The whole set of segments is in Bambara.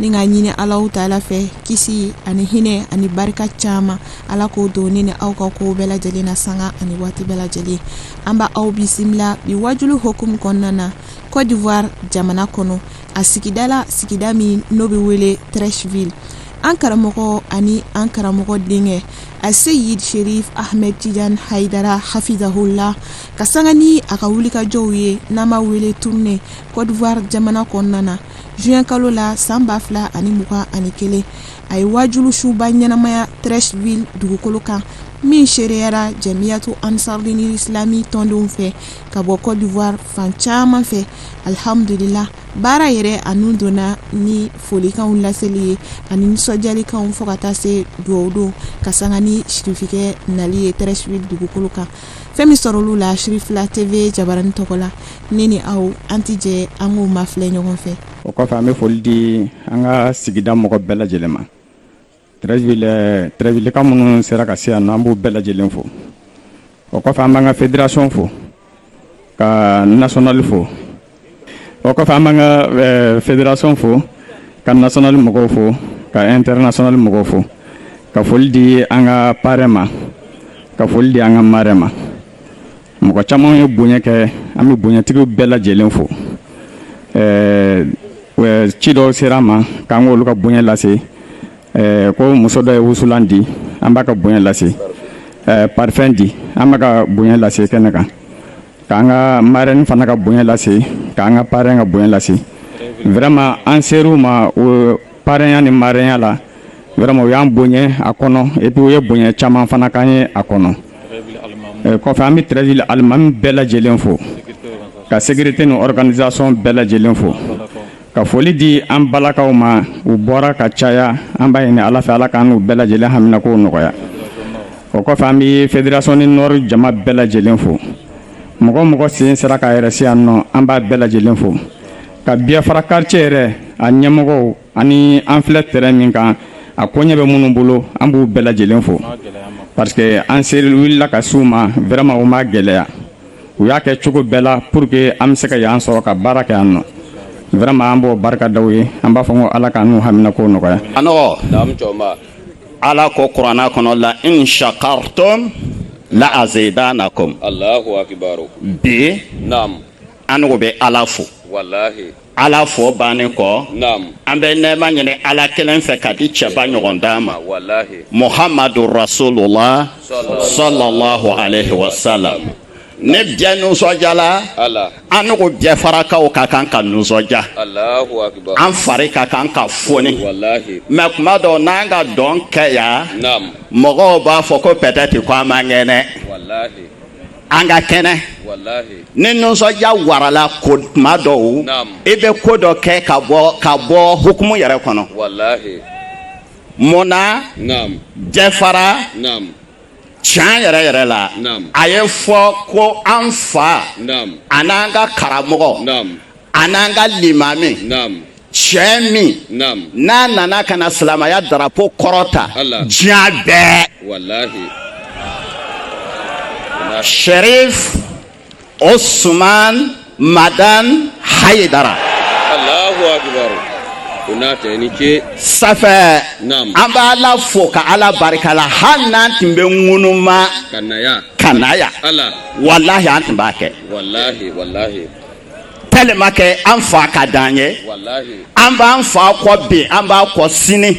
ni k'a ɲini alahu taala fɛ kisi ani hinɛ ani barika caman ala k'o don ne ni aw ka ko bɛɛ lajɛlen na sanga ani waati bɛɛ lajɛlen an b' aw bisimila bi wajulu hukumu kɔnɔna na côte d'ivoire jamana kɔnɔ a sigida la sigida min n'o bɛ wele treichville an karamɔgɔ ani an karamɔgɔ denkɛ aseyid cherif ahmed tidiane haidara hafizahullah ka sanga ni a ka wulikajɔw ye n'an b'a wele tournée côte d'ivoire jamana kɔnɔna na juin kalo la san ba fila ani mugan ani kelen a ye waajulu suba ɲɛnamaya treichville dugukolo kan min seereyara jamiyatu ansarudini islami tɔndenw fɛ ka bɔ côte d'ivoire fan caman fɛ alhamdulila baara yɛrɛ a nun donna ni folikanw laseli ye ani nisɔndiyalikanw fo ka taa se duwawu don ka sanga ni sirifikɛ nali ye treichville dugukolo kan fɛn min sɔrɔ olu la cherifla tv jabarani tɔgɔ la ne ni aw an tɛ jɛ an k'o mafilɛ ɲɔgɔn fɛ o kɔfɛ an bɛ foli di an ka sigida mɔgɔ bɛɛ lajɛlen ma treichvillekaw minnu sera ka se yan nɔ an b'u bɛɛ lajɛlen fo o kɔfɛ an b'an ka federation fo ka national fo o kɔfɛ an b'an ka eh, federation fo ka national mɔgɔw fo ka international mɔgɔw fo ka foli di an ka parrain ma ka foli di an ka marraine ma mɔgɔ caman ye bonya kɛ an bɛ bonyatigiw bɛɛ lajɛlen fo eh, eh, ci dɔw ser'an ma k'an k'olu ka bonya lase ko muso dɔ ye wusulan di an b'a ka bonya lase parfum di an b'a ka bonya lase kɛnɛ kan k'an ka marraine fana ka bonya lase k'an ka parrain ka bonya lase vraiment an ser'u ma o parrainya ni marrainya la vraiment u y'an bonya a kɔnɔ et puis u ye bonya caman fana k'an ye a kɔnɔ eh, kɔfɛ an bɛ Treichville alimami bɛɛ lajɛlen fo ka sécurité ni organisation bɛɛ lajɛlen fo Ka foli di an balakaw ma u bɔra ka caya an b'a ɲini ala fɛ ala k'an n'u bɛɛ lajɛlen haminako nɔgɔya o kɔfɛ an bɛ federation ni nord jama bɛɛ lajɛlen fo mɔgɔ o mɔgɔ sen sera k'a yɛrɛ se yan nɔ an b'a bɛɛ lajɛlen fo ka biafra quartier yɛrɛ a ɲɛmɔgɔw ani an filɛ terrain min kan a koɲɛ bɛ minnu bolo an b'u bɛɛ lajɛlen fo parce que an seri wulila ka s'u ma vraiment o ma gɛlɛya u y'a kɛ cogo bɛɛ la pour que an bɛ se ka yan sɔrɔ ka baara kɛ yan nɔ vraiment an b'o barika d'aw ye an b'a fɔ ko ala k'an n'u haminako nɔgɔya anw ko ala ko kuranna kɔnɔ la in shakartum la azidanakum allahu akbar bi naam anw bɛ ala fo ala fo bannen kɔ an bɛ nɛma ɲini ala kelen fɛ ka di cɛba ɲɔgɔn dan ma muhamadu rasulula sallallahu alaihi wasalam ne bɛɛ nisɔndiyala annugu biafarakaw ka kan ka nisɔndiya an fari ka kan ka foni mais tuma dɔw n'an ka dɔn kɛ yan mɔgɔw b'a fɔ ko peut-être ko an man kɛnɛ an ka kɛnɛ ni nisɔndiya warala ko tuma dɔw i bɛ ko dɔ kɛ ka bɔ ka bɔ hukumu yɛrɛ kɔnɔ mun na biafara tiɲɛ yɛrɛ yɛrɛ la a ye fɔ ko an fa an'an ka karamɔgɔ an'an ka limami cɛ min n'a nana ka na silamaya darapo kɔrɔta diɲɛ bɛɛ sharif osuman madan hayidara ça fait an bɛ ala fo ka ala barika la hali n'an tun bɛ ŋunuma ka na yan walahi an tun b'a kɛ tellement que an fa ka d'an ye an b'an fa kɔ bi an b'a kɔ sini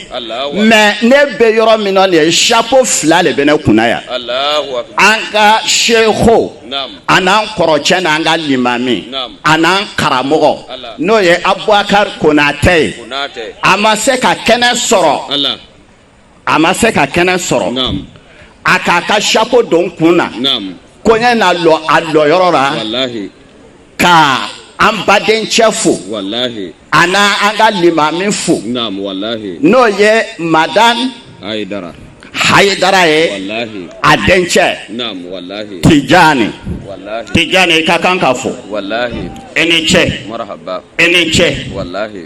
mais ne bɛ yɔrɔ min na nin ye chapeau fila de bɛ ne kunna yan an ka seku an'an kɔrɔcɛ n'an ka limami an'an karamɔgɔ n'o ye abubakari konatɛ ye a ma se ka kɛnɛ sɔrɔ a ma se ka kɛnɛ sɔrɔ a k'a ka chapeau don n kun na ko n ye na lɔ a lɔyɔrɔ la ka an badencɛ fo ani an ka limami fo n'o ye madan hayidara ye a dencɛ tijani tijani i ka kan ka fo i ni ce i ni ce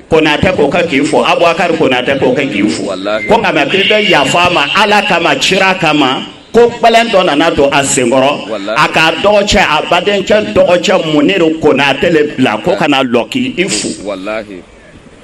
konatɛ ko ka k'i fo abubakari konatɛ ko ka k'i fo ko nka mɛ k'i bɛ yafa a ma ala kama cira kama ko gbɛlɛn dɔ nana don a sen kɔrɔ a ka dɔgɔcɛ a badencɛ dɔgɔcɛ muniru konatɛ le bila ko ka na lɔ k'i fo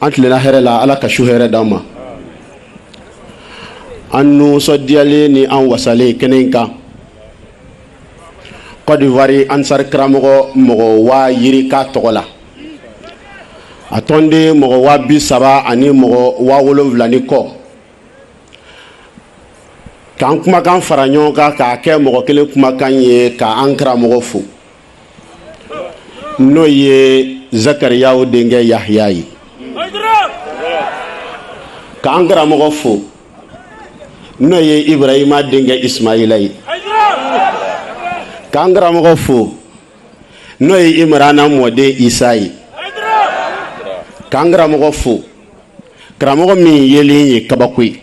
an tilenna hɛrɛ la ala ka su hɛrɛ d'an ma an nisɔndiyalen ni an wasalen kɛnɛ in kan kɔdiwari ansari karamɔgɔ mɔgɔ waa yirika tɔgɔ la a tɔnden mɔgɔ waa bi saba ani mɔgɔ waa wolonwula ni kɔ k'an kumakan fara ɲɔgɔn kan k'a kɛ mɔgɔ kelen kumakan ye ka an karamɔgɔ fo n'o ye zakariyaw denkɛ yahya ye k'an karamɔgɔ fo n'o ye ibrahima denkɛ ismaila ye k'an karamɔgɔ fo n'o ye imrana mɔden isa ye k'an karamɔgɔ fo karamɔgɔ min yelen ye kabako ye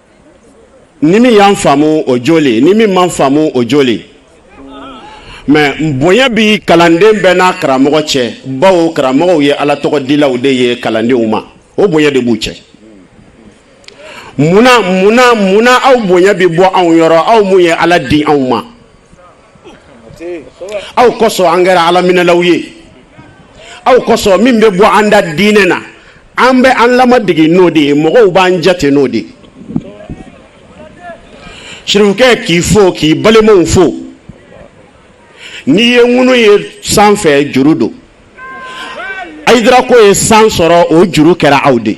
ni min y'an faamu o joli ni min man faamu o joli mɛ bonya bi kalanden bɛɛ n'a karamɔgɔ cɛ bawo karamɔgɔw ye ala tɔgɔ dilaw de ye kalandenw ma o bonya de b'u cɛ munna munna munna aw bonya bɛ bɔ anw yɔrɔ aw mun ye ala di anw ma aw kosɔn an kɛra alaminɛlaw ye aw kosɔn min bɛ bɔ an da diinɛ na an bɛ an lamadege n'o de ye mɔgɔw b'an jate n'o de ye sirifukɛ k'i fo k'i balimaw fo n'i ye ŋunu ye sanfɛ juru don ayidara ko ye san sɔrɔ o juru kɛra aw de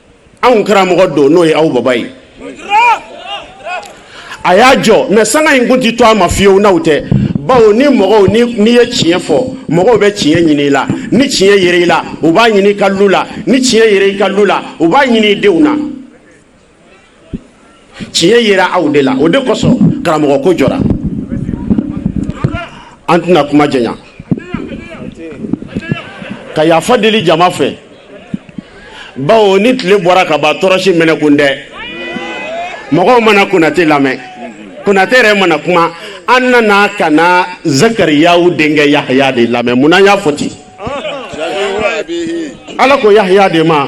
anw karamɔgɔ don n'o ye aw baba ye a y'a jɔ mɛ sanga in kun tɛ to a ma fiyewu n'aw tɛ bawo ni mɔgɔw n'i ye tiɲɛ fɔ mɔgɔw bɛ tiɲɛ ɲini i la ni tiɲɛ yera i la u b'a ɲini i ka lu la ni tiɲɛ yera i ka lu la u b'a ɲini i denw na tiɲɛ yera aw de la o de kosɔn karamɔgɔ ko jɔra an tɛna kuma janya ka yafa deli jama fɛ bawo ni tile bɔra ka ban tɔrɔsi mɛnɛ kun tɛ mɔgɔw ma na konate lamɛn konate yɛrɛ ma na kuma an nana ka na zakariyaw denkɛ yahaya de lamɛn mun na n y'a fɔ ten ala ko yahaya de ma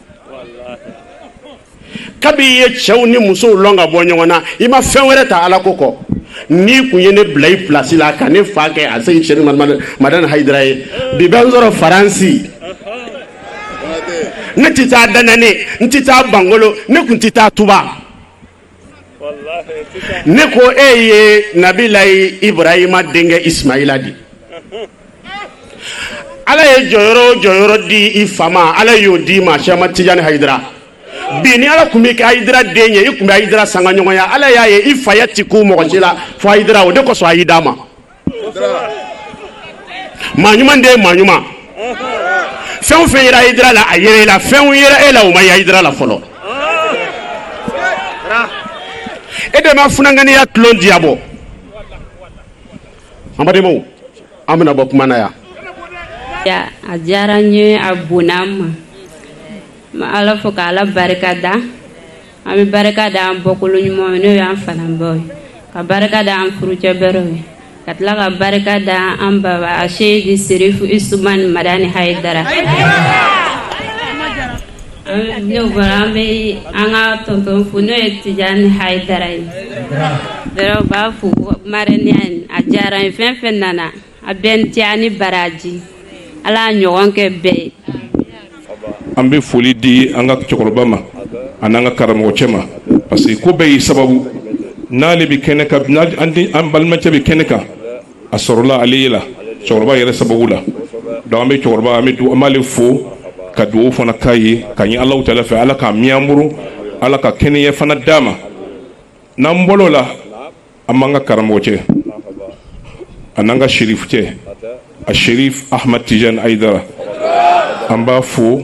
kabi i ye cɛw ni musow lɔn ka bɔ ɲɔgɔn na i ma fɛn wɛrɛ ta ala ko kɔ n'i kun ye ne bila i pilasi la ka ne fa kɛ aseyidi sɛrifu madani hayidara ye bi bɛ n sɔrɔ faransi ne tɛ taa danane n tɛ taa bangolo ne kun tɛ taa tuba ne ko e ye nabilayi iburahima denkɛ ismaila di ala ye jɔyɔrɔ o jɔyɔrɔ di i fa ma ala y'o d'i ma sɛma tijani hayidara bi ni ala kun b'i kɛ ayidara den ye i kun bɛ ayidara sanga ɲɔgɔnya ala y'a ye i faya ti kun mɔgɔ si la fo ayidara o de kosɔn a y'i d'a ma maa ɲuman den ye maa ɲuman fɛn o fɛn yera Hayidara la a yera e la fɛnw yera e la o ma ye Hayidara la fɔlɔ e de ma funanganiya tulon diyabɔ an badenmaw an bɛna bɔ kuma na yan a diyara n ye a bonya n ma n bɛ ala fo ka ala barika da an bɛ barika da an bɔkolo ɲumanw ye n'o y'an fa n'an baw ye ka barika da an furucɛ bɛrɛw ye ka tila ka barika da an baba a seyidi serifu usumani madani hayidara ne bɔra an bɛ an ka tɔntɔn fo n'o ye tijani hayidara ye dɔrɔn u b'a fo marɛniya in a diyara n ye fɛn fɛn nana a bɛɛya ni baraji ala ɲɔgɔn kɛ bɛɛ ye an bɛ foli di an ka cɛkɔrɔba ma ani an ka karamɔgɔ cɛ ma parce que ko bɛɛ y'i sababu n'ale bɛ kɛnɛ kan an balimacɛ bɛ kɛnɛ kan a sɔrɔla ale ye la cɛkɔrɔba yɛrɛ sababu la donc an bɛ cɛkɔrɔba an bɛ an b'ale fo ka dugawu fana k'a ye ka ɲɛ alahu taala fɛ ala k'a mɛn an bolo ala ka kɛnɛya fana d'a ma n'an bɔr'o la an b'an ka karamɔgɔ cɛ a n'an ka sherif cɛ a sherif ahmad tijan hayidara an b'a fo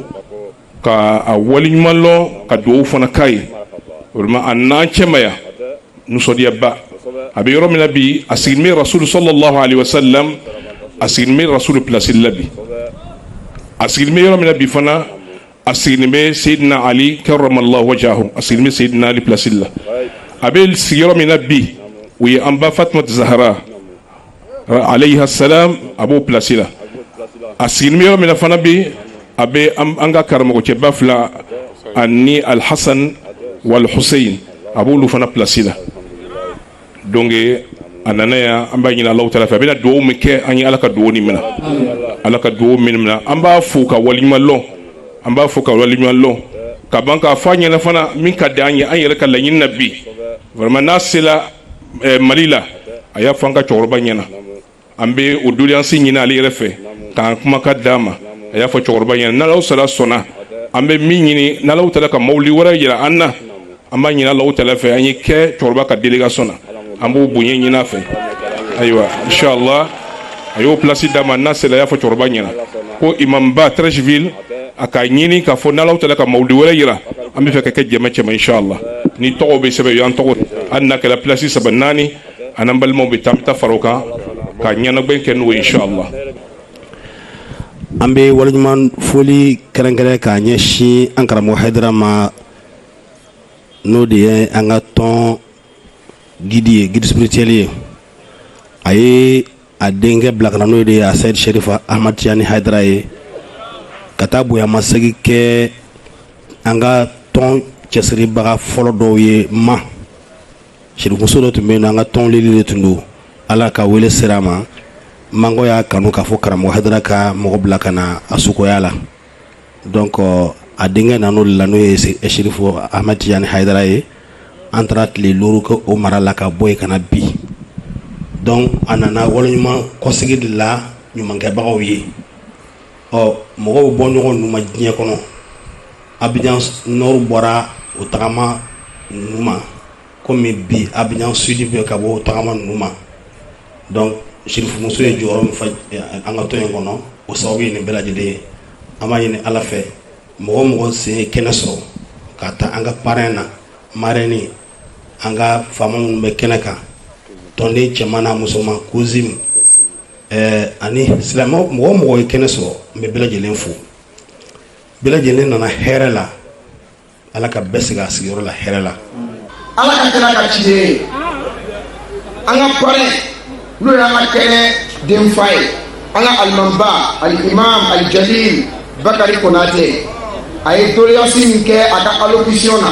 ka a waleɲuman lɔn ka dugawu fana k'a ye vraiment a n'an cɛma y'an nisɔndiyaba a bɛ yɔrɔ min na bi a sigilen bɛ rasulu sallallahu alayhi wa sallam a sigilen bɛ rasulu place la bi a sigilen bɛ yɔrɔ min na bi fana a sigilen bɛ Seydina Ali karamallahu wajahu a sigilen bɛ Seydina Ali place la a bɛ sigi yɔrɔ min na bi o ye an ba Fatumata Zahara alayha salam a b'o place la a sigilen bɛ yɔrɔ min na fana bi a bɛ an ka karamɔgɔcɛba fila ani Alhasan wal Huseyin a b'olu fana place la. donc a nana yan an b'a ɲini alahu taala fɛ a bɛna dugawu min kɛ an ye ala ka dugawu nin minɛ ala ka dugawu min minɛ an b'a fo ka waliɲuman lɔn an b'a fo ka waliɲuman lɔn ka ban k'a fɔ a ɲɛna fana min ka di an ye an yɛrɛ ka laɲini na bi vraiment n'a sela eh, mali la a y'a fɔ an ka cɛkɔrɔba ɲɛna an bɛ o doléance ɲini ale yɛrɛ fɛ k'an kumakan d'a ma a y'a fɔ cɛkɔrɔba ɲɛna n'alahu taala sɔnna an bɛ min ɲini n'alahu taala ka mawuli wɛrɛ jira an na an b'a ɲini alahu taala fɛ an ye kɛ cɛkɔrɔba ka délégation na an b'o bonya ɲini a fɛ ayiwa inshallah a y'o place d'a ma n'a sera a y'a fɔ cɛkɔrɔba ɲɛna ko imamba Treichville a ka ɲini k'a fɔ n'alahu taala ka mawuli wɛrɛ jira an b'a fɛ ka kɛ jama cɛma inshallah ni tɔgɔ bɛ sɛbɛn y'an tɔgɔ hali n'a kɛra place saba naani an balimaw bɛ taa bɛ fara kan ka ɲɛnajɛ kɛ n'o ye inshallah an bɛ waliɲuman foli kɛrɛnkɛrɛn k'a ɲɛsin an karamɔgɔ hayidara ma n'o de ye an ka tɔn guide ye guide spirituel ye a ye a denkɛ bila ka na n'o de ye a seyidi sherif ahmad tijani hayidara ye ka taa bonyamasegin kɛ an ka tɔn cɛsiribaga fɔlɔ dɔw ye ma Sirifumuso dɔ tun bɛ yen n'o an ka tɔn lili de tun don Ala ka wele sera a ma mango y'a kanu k'a fɔ karamɔgɔ Hayidara ka mɔgɔ bila ka na a sukoya la donc a denkɛ nan'o de la n'o ye Sirifu Ahmɛdi Tijani Hayidara ye an taara tile duuru kɛ o mara la ka bɔ yen ka na bi donc a nana waleɲuman kɔsegin de la ɲumankɛbagaw ye ɔ mɔgɔw bɛ bɔ ɲɔgɔn ninnu ma diɲɛ kɔnɔ abijan nord bɔra o tagama ninnu ma kɔmi bi abijan sud bɛ ka bɔ o tagama ninnu ma donc sirifumuso ye jɔyɔrɔ min fa an ka tɔn in kɔnɔ o sababu ye nin bɛɛ lajɛlen ye an b'a ɲini ala fɛ mɔgɔ o mɔgɔ sen ye kɛnɛ sɔrɔ ka ta an ka parrain na marraine an ka faama minnu bɛ kɛnɛ kan tɔnden cɛman n'a musoman COSIM ɛɛ ani silamɛ mɔgɔ o mɔgɔ ye kɛnɛ sɔrɔ n bɛ bɛɛ lajɛlen fo bɛɛ lajɛlen nana hɛrɛ la ala ka bɛɛ segin a sigiyɔrɔ la hɛrɛ la ala ka kɛnɛ ka ci ye an ka parrain n'o y'an ka kɛnɛ denfa ye an ka alimamiba alimam alijalil bakari konate a ye doléance min kɛ a ka allocution na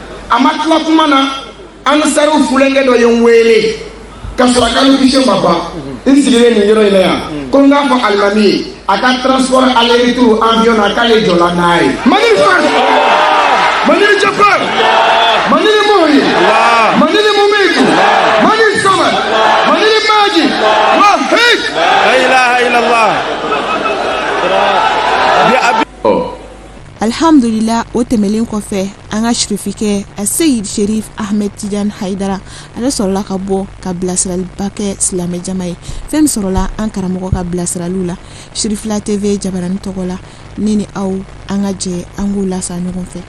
a ma tila kuma na ansari funankɛ dɔ ye n wele ka sɔrɔ a ka allocution ma ban n sigilen nin yɔrɔ in na yan ko n k'a fɔ alimami ye a ka transport aller retour avion na k'ale jɔla n'a ye manil fatah manil jabar manil muhyi manil mumitu manil samad manil majid wahid la ilaha illallah alihamdulila o tɛmɛlen kɔfɛ an ka sirifikɛ a seyid sherif ahmed tijan hayidara ale sɔrɔla ka bɔ ka bilasiraliba kɛ silamɛjama ye fɛn min sɔrɔla an karamɔgɔ ka bilasiraliw la sirifila tv jabarani tɔgɔ la ne ni aw an ka jɛ an k'u lasa ɲɔgɔn fɛ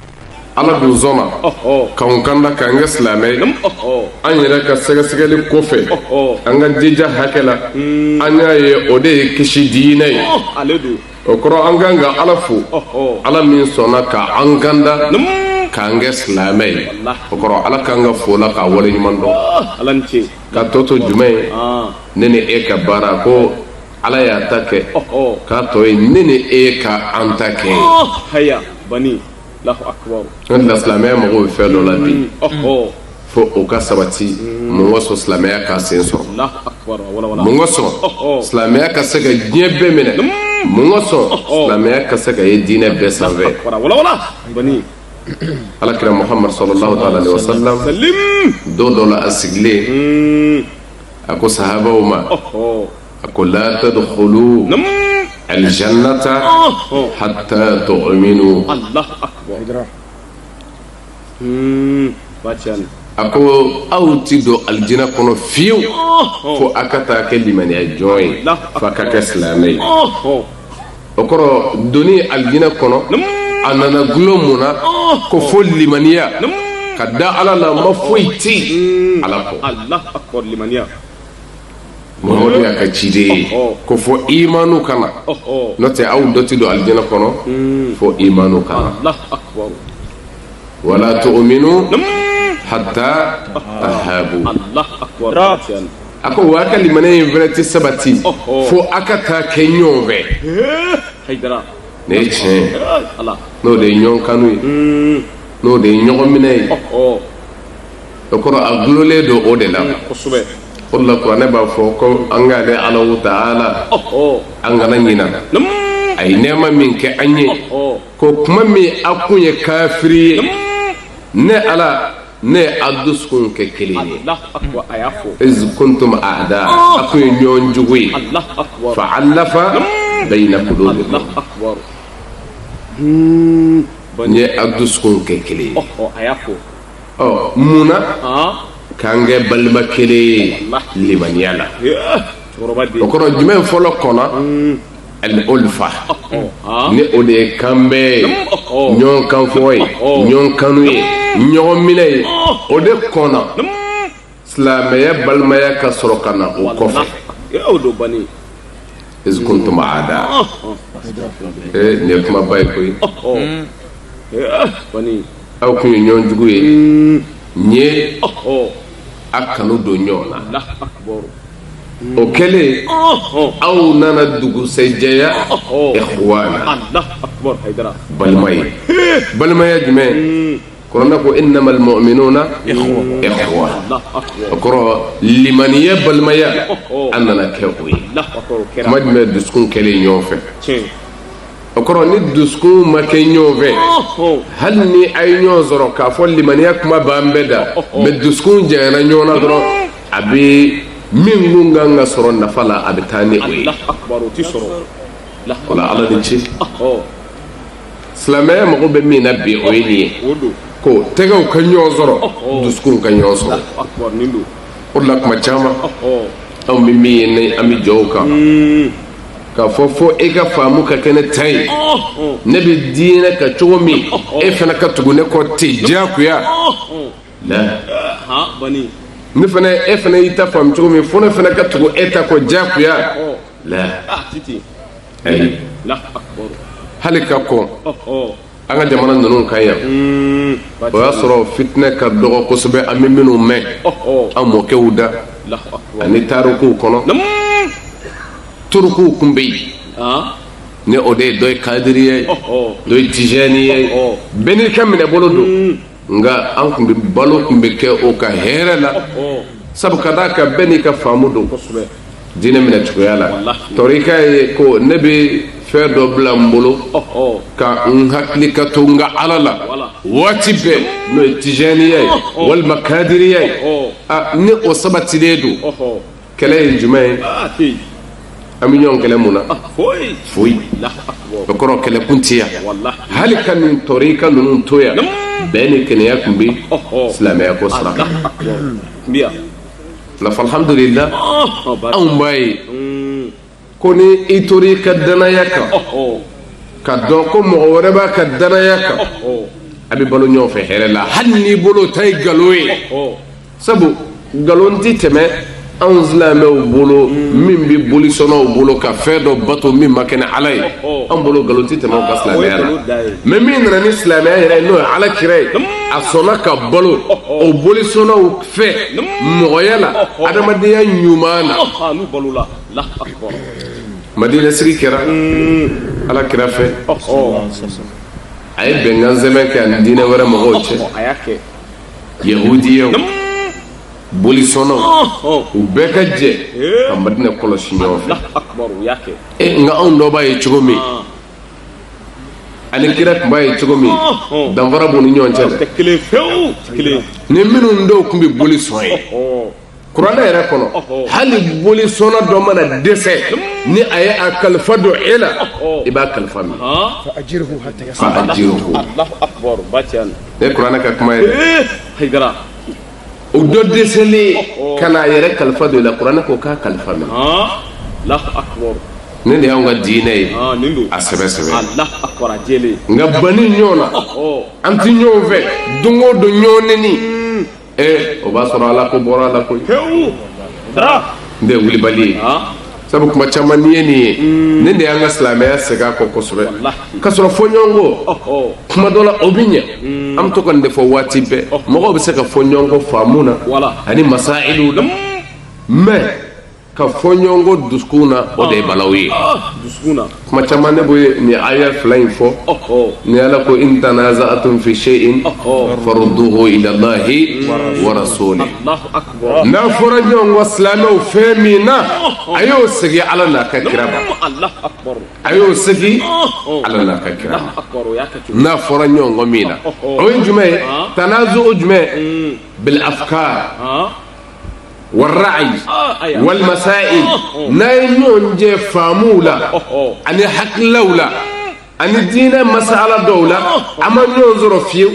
ala dun sɔnna k'an kanda k'an kɛ silamɛ ye an yɛrɛ ka sɛgɛsɛgɛli kɔfɛ an ka jija hakɛ la an y'a ye o de ye kisi diinɛ ye o kɔrɔ an kan ka ala fo ala min sɔnna ka an kanda k'an kɛ silamɛ ye o kɔrɔ ala kan ka fo la k'a wale ɲuman dɔn k'a tɔ to jumɛn ye ne ni e ka baara ko ala y'a ta kɛ k'a tɔ ye ne ni e ka an ta kɛ ye Wa n da la silamɛya mago bɛ fɛn dɔ la bi fo o ka sabati mun kosɔn silamɛya ka sen sɔrɔ mun kosɔn silamɛya ka se ka diɲɛ bɛɛ minɛ mun kosɔn silamɛya ka se ka ye diinɛ bɛɛ sanfɛ alakira muhammad sallallahu taala alaihi wasallam don dɔ la a sigilen a ko sahabaw ma a ko la tadkhulu aljannata hatta tu'minu allah akbar hmm bachan a ko aw ti don aljina kɔnɔ fiyewu fo a ka taa kɛ limaniya jɔn ye f'a ka kɛ silamɛ ye o kɔrɔ doni aljina kɔnɔ a nana gulon mun na ko fo limaniya ka da ala la ma foyi ti ala kɔ Muhamadu y'a ka ciden ye ko fo imanu ka na n'o tɛ aw dɔ tɛ don aljina kɔnɔ fo imanu ka na wala tu'minu hatta tahabu a ko w'a ka limaniya in fana tɛ sabati fo aw ka taa kɛ ɲɔgɔn fɛ ne ye tiɲɛ n'o de ye ɲɔgɔn kanu ye n'o de ye ɲɔgɔn minɛ ye o kɔrɔ a dulolen don o de la o la kuranɛ b'a fɔ ko an k'ale alahu ta'ala an kana ɲina a ye nɛɛma min kɛ an ye ko kuma min a kun ye kafiri ye ne ala ne ye a dusukun kɛ kelen ye iz kuntum a'da a kun ye ɲɔgɔn jugu ye fa alafa bayna qulubikum n ye a dusukun kɛ kelen ye ɔ mun na k'an kɛ balima kelen ye limaniya la o kɔrɔ jumɛn fɔlɔ kɔnna al-ulfa ni o de ye kanbɛn ye ɲɔgɔn kanfɔ ye ɲɔgɔn kanu ye ɲɔgɔn minɛ ye o de kɔnna silamɛya balimaya ka sɔrɔ ka na o kɔfɛ y'o don bani iz kuntum a'da ee nin ye kumaba ye koyi bani aw kun ye ɲɔgɔn jugu ye n ye a kanu don ɲɔgɔn na allah akbar o kɛlen aw nana dugusɛjɛya ikhwana allah akbar haydara balima ye balimaya jumɛn kuranɛ ko innamal mu'minuna ikhwa o kɔrɔ limaniya balimaya an nana kɛ o ye kuma jumɛn dusukun kɛlen ɲɔgɔn fɛ o kɔrɔ ni dusukun ma kɛ ɲɔgɔn fɛ hali ni a ye ɲɔgɔn sɔrɔ k'a fɔ limaniya kuma b'an bɛɛ da mɛ dusukun janyana ɲɔgɔn na dɔrɔn a bɛ min kun kan ka sɔrɔ nafa la a bɛ taa ni o ye o la ala ni ce silamɛya mago bɛ min na bi o ye nin ye ko tɛgɛw ka ɲɔgɔn sɔrɔ dusukunw ka ɲɔgɔn sɔrɔ o de la tuma caman anw bɛ min ye ni an bɛ jɔ o kan k'a fɔ fo e ka faamu ka kɛ ne ta ye ne bɛ diinɛ kɛ cogo min e fana ka tugu ne kɔ ten diyagoya ne fana e fana y'i ta faamu cogo min fo ne fana ka tugu e ta kɔ diyagoya hali ka kɔn an ka jamana ninnu kan yan o y'a sɔrɔ fitinɛ ka dɔgɔ kosɛbɛ an bɛ minnu mɛn an mɔkɛw da ani tarikuw kɔnɔ turukuw tun bɛ yen ni o de ye dɔ ye kadiri ye dɔ ye tijani ye bɛɛ n'i ka minɛ bolo don nka an tun bɛ balo tun bɛ kɛ o kan hɛrɛ la sabu ka d'a kan bɛɛ n'i ka faamu don diinɛ minɛ cogoya la tɔrika ye ko ne bɛ fɛn dɔ bila n bolo ka n hakili ka to n ka ala la waati bɛɛ n'o ye tijaniya ye walima kadiriya ye ni o sabatilen don kɛlɛ ye jumɛn ye Ah, hey. an bɛ ɲɔgɔn kɛlɛ mun na Ah, foyi. foyi Allahu akbar. o kɔrɔ kɛlɛkun tɛ yan Wallahi. hali ka nin tɔrika ninnu to yan bɛn ni kelenya tun bɛ Ɔhɔ. silamɛya ko sira kan Allahu akbar. Mbiya. nka alhamdulila Ah, ba- anw b'a ye ko ni i tora i ka danaya kan ka dɔn ko mɔgɔ wɛrɛ b'a ka danaya kan a bɛ balo ɲɔgɔn fɛ hɛrɛ la hali n'i bolo ta ye nkalon ye sabu nkalon tɛ tɛmɛ anw silamɛw bolo min bɛ bolisɔnnaw bolo ka fɛn dɔ bato min ma kɛ ni ala ye an bolo nkalon tɛ tɛmɛ o kan silamɛya la mɛ min nana ni silamɛya yɛrɛ ye n'o ye ala kira ye a sɔnna ka balo o bolisɔnnaw fɛ mɔgɔya la adamadenya ɲuman na madina sigi kɛra ala kira fɛ a ye bɛnkan sɛbɛn kɛ a ni diinɛ wɛrɛ mɔgɔw cɛ yahudiyaw bolisɔnnaw u bɛɛ ka jɛ ka madina kɔlɔsi ɲɔgɔn fɛ e nka anw dɔ b'a ye cogo min ani kira tun b'a ye cogo min danfara b'u ni ɲɔgɔn cɛ dɛ ni minnu dɔw tun bɛ boli sɔn ye kuranɛ yɛrɛ kɔnɔ hali bolisɔnna dɔ mana dɛsɛ ni a ye a kalifa don e la i b'a kalifa minɛ fa ajiruhu nin ye kuranɛ ka kuma ye dɛ o dɔ dɛsɛlen ka n'a yɛrɛ kalifa don i la kuranɛ ko k'a kalifa minɛ nin de y'anw ka diinɛ ye ah, a sɛbɛ sɛbɛ nka banni ɲɔgɔn na an tɛ ɲɔgɔn fɛ don o don ɲɔgɔn neni ee o b'a sɔrɔ ala ko bɔra a la koyi n tɛ wulibali ye sabu kuma caman n'i ye nin ye mm. nin de y'an ka silamɛya segin a kɔ kosɛbɛ k'a sɔrɔ fɔɲɔgɔnkɔ kuma dɔ la o bɛ ɲɛ mm. an bɛ to ka nin de fɔ waati bɛɛ mɔgɔw bɛ se ka fɔ ɲɔgɔn kɔ faamu na ani masayiliw la mɛ ka fɔ ɲɔgɔn kɔ dusukun na o de ye balawu ye kuma caman ne bɛ nin aya fila in fɔ ni ala ko in tanaza'atum fi seyin faruduhu ilalahi wa rasuli n'a fɔra ɲɔgɔn kɔ silamɛw fɛn min na a y'o segin ala n'a ka kira ma a y'o segin ala n'a ka kira ma n'a fɔra ɲɔgɔn kɔ min na o ye jumɛn ye tanazu jumɛn bil afkar wa ra'ayi wal masayili n'a ye ɲɔgɔn jɛ faamuw la ani hakililaw la ani diinɛ masala dɔw la a ma ɲɔgɔn sɔrɔ fiyewu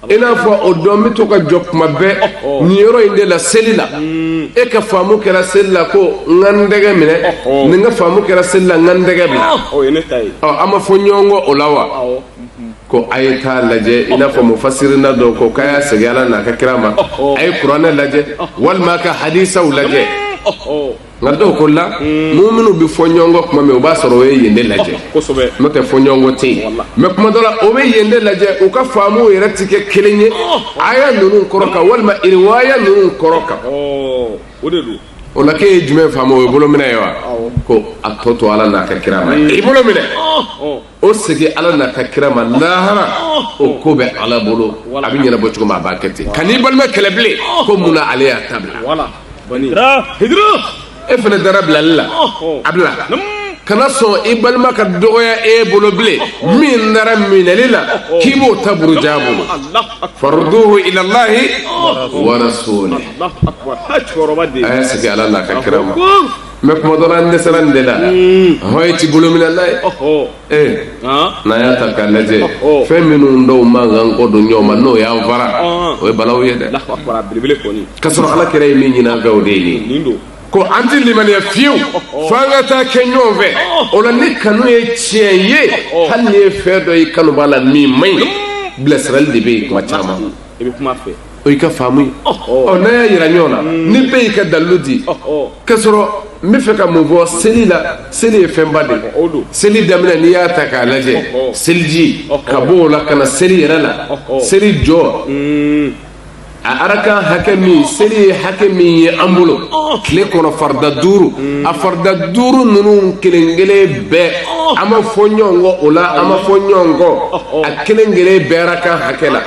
i n'a fɔ o dun bɛ to ka jɔ kuma bɛɛ nin yɔrɔ in de la seli la e ka faamu kɛra seli la ko n ka n tɛgɛ minɛ nin ka faamu kɛra seli la n ka n tɛgɛ bila an ma fɔ ɲɔgɔn kɔ o la wa ko a ye taa lajɛ i n'a fɔ mufasirina dɔw ko k'a y'a segin ala n'a ka kira ma a ye kuranɛ lajɛ walima a ka hadisaw lajɛ nka dɔw ko la minnu minnu bɛ fɔ ɲɔgɔn kɔ tuma min o b'a sɔrɔ o ye yen de lajɛ n'o tɛ fɔɲɔgɔnkɔ tɛ yen mɛ kuma dɔ la o bɛ yen de lajɛ u ka faamuw yɛrɛ tɛ kɛ kelen ye aya ninnu kɔrɔ kan walima iriwaya ninnu kɔrɔ kan o la k'e ye jumɛn faamu o ye bolo minɛ ye wa ko a tɔ to ala n'a ka kira ma i bolo minɛ o segin ala n'a ka kira ma lahara o ko bɛ ala bolo a bɛ ɲɛnabɔ cogo min a b'a kɛ ten kan'i balima kɛlɛ bilen ko mun na ale y'a ta bila e fana dara bilali la a bila kana sɔn i balima ka dɔgɔya e bolo bilen min dara minɛli la k'i b'o ta buruja a bolo faruduhu ilalahi wa rasuli a y'a segin ala n'a ka kira ma mɛ kuma dɔ la an dɛsɛra nin de la hɔn ti bolo minɛ la ye ee n'an y'a ta k'a lajɛ fɛn minnu dɔw man kan kɔ don ɲɔgɔn ma n'o y'an fara o ye balawu ye dɛ k'a sɔrɔ ala kira ye min ɲini an fɛ o de ye ko an tɛ limaniya fiyewu fo an ka taa kɛ ɲɔgɔn fɛ o la ni kanu ye tiɲɛ ye hali n'i ye fɛn dɔ ye i kanubaa la min man ɲi bilasirali de bɛ yen kuma caman o y'i ka faamu ye ɔ n'a y'a yira ɲɔgɔn na ni bɛɛ y'i ka dalilu di k'a sɔrɔ n bɛ fɛ ka mun fɔ seli la seli ye fɛnba de ye seli daminɛ n'i y'a ta k'a lajɛ seliji ka bɔ o la ka na seli yɛrɛ la seli jɔ a arakan hakɛ min seli ye hakɛ min ye an bolo tile kɔnɔ farida duuru a farida duuru ninnu kelen kelen bɛɛ an ma fɔ ɲɔgɔn kɔ o la an ma fɔ ɲɔgɔn kɔ a kelen kelen bɛɛ arakan hakɛ la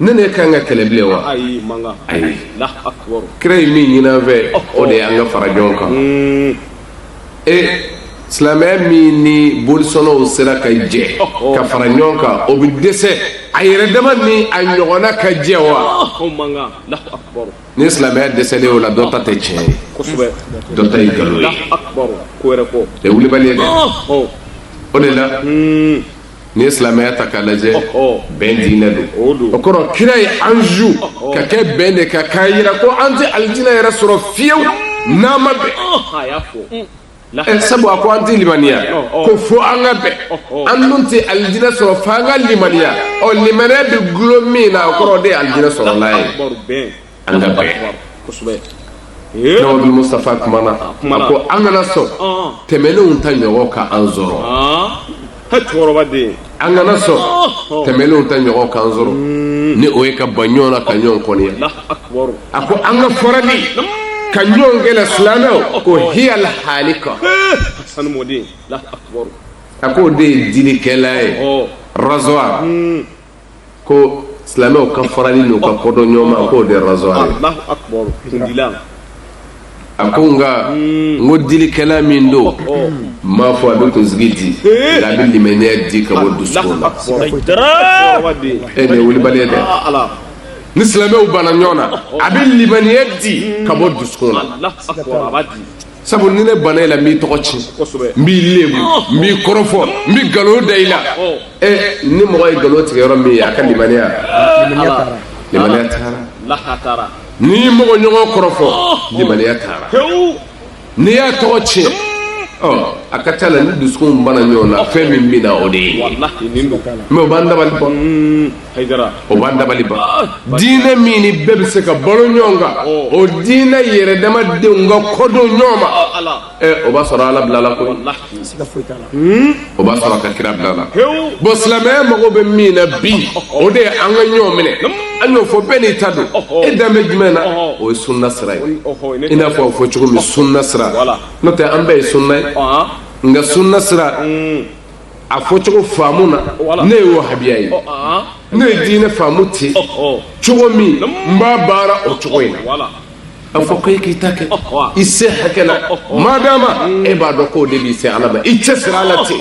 ne ne ka kan ka kɛlɛ bilen wa ayi kira ye min ɲini an fɛ o de ye an ka fara ɲɔgɔn kan e silamɛya min ni bolisɔnnaw sera ka jɛ ka fara ɲɔgɔn kan o bɛ dɛsɛ a yɛrɛ dama ni a ɲɔgɔnna ka jɛ wa ni silamɛya dɛsɛlen o la dɔ ta tɛ tiɲɛ ye dɔ ta ye nkalon ye o ye wulibali ye dɛ o de la n'i ye silamɛya ta k'a lajɛ bɛn diinɛ don o kɔrɔ kira ye an zu ka kɛ bɛn de kan k'a jira ko an tɛ alijinɛ yɛrɛ sɔrɔ fiyewu n'an ma bɛn ɛ sabu a ko an tɛ limaniya ko fo an ka bɛn an dun tɛ alijinɛ sɔrɔ fo an ka limaniya ɔ limaniya bɛ dulon min na o kɔrɔ o de ye alijinɛ sɔrɔla ye an ka bɛn kosɛbɛ Nabi Mustafa kumana a ko an kana sɔn tɛmɛnenw ta ɲɔgɔn ka an sɔrɔ cɛkɔrɔba den an kana sɔn tɛmɛnenw ta ɲɔgɔn ka an sɔrɔ hmm. ni o ye ka ban ɲɔgɔn na ka ɲɔgɔn kɔniya a ko an ka farali ka ɲɔgɔn kɛlɛ silamɛw ko hiyal halika a ko o de ye dilikɛla ye rasoir hmm. ko silamɛw ka farali n'u ka kɔdon ɲɔgɔn ma k'o de ye rasoir ye a ko nka n ko dilikɛla min don n oh. m'a fɔ a bɛ kunsigi di eh. nka a bɛ limaniya di ka bɔ dusukun na e nin ye wulibali ye dɛ ni silamɛw banna ɲɔgɔn na a bɛ limaniya di ka bɔ dusukun na sabu ni ne banna i la n b'i tɔgɔ tiɲɛ n b'i lebu n b'i kɔrɔfɔ n bɛ nkalon da i la ɛ ni mɔgɔ ye nkalon tigɛ yɔrɔ min ye a ka limaniya limaniya taara n'i ye mɔgɔ ɲɔgɔn kɔrɔfɔ limaniya taara n'i y'a tɔgɔ tiɲɛ ɔ a ka ca la ni dusukunw banna ɲɔgɔn na fɛn min bɛ na o de ye mais o b'an dabali ban o b'an dabali ban diinɛ min ni bɛɛ bɛ se ka balo ɲɔgɔn kan o diinɛ yɛrɛdama denw ka kɔdon ɲɔgɔn ma ɛ o b'a sɔrɔ ala bilala ko o b'a sɔrɔ a ka kira bilala bon silamɛya mago bɛ min na bi o de ye an ka ɲɔgɔn minɛ an y'o fɔ bɛɛ n'i ta don e dan bɛ jumɛn na o ye sunna sira ye i n'a fɔ a fɔ cogo min sunna sira n'o tɛ an bɛɛ ye sunna ye nka sunna sira a fɔcogo faamuna ne ye wahabiya ye ne ye diinɛ faamu ten cogo min n b'a baara o cogo in na a fɔ ko e k'i ta kɛ i se hakɛ la madama e b'a dɔn k'o de b'i se ala ma i cɛ siri a la ten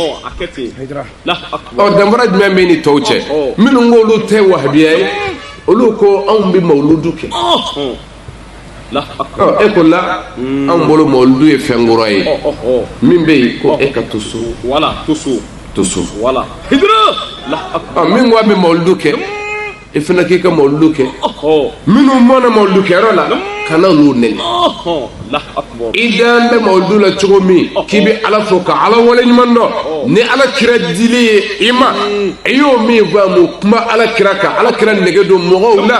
ɔ danfara jumɛn b'e ni tɔw cɛ minnu k'olu tɛ wahabiya ye olu ko anw bɛ mawuludu kɛ e ko la anw bolo mawuludu ye fɛn kura ye min bɛ yen ko e ka to so to so min ko an bɛ mawuludu kɛ e fana k'i ka mawuludu kɛ minnu ma na mawuludu kɛyɔrɔ la kana n'u nɛni i da bɛ mawuludu la cogo min k'i bɛ ala fo ka ala wale ɲuman dɔn ni ala kira dili ye i ma i y'o min faamu kuma ala kira kan ala kira nege don mɔgɔw la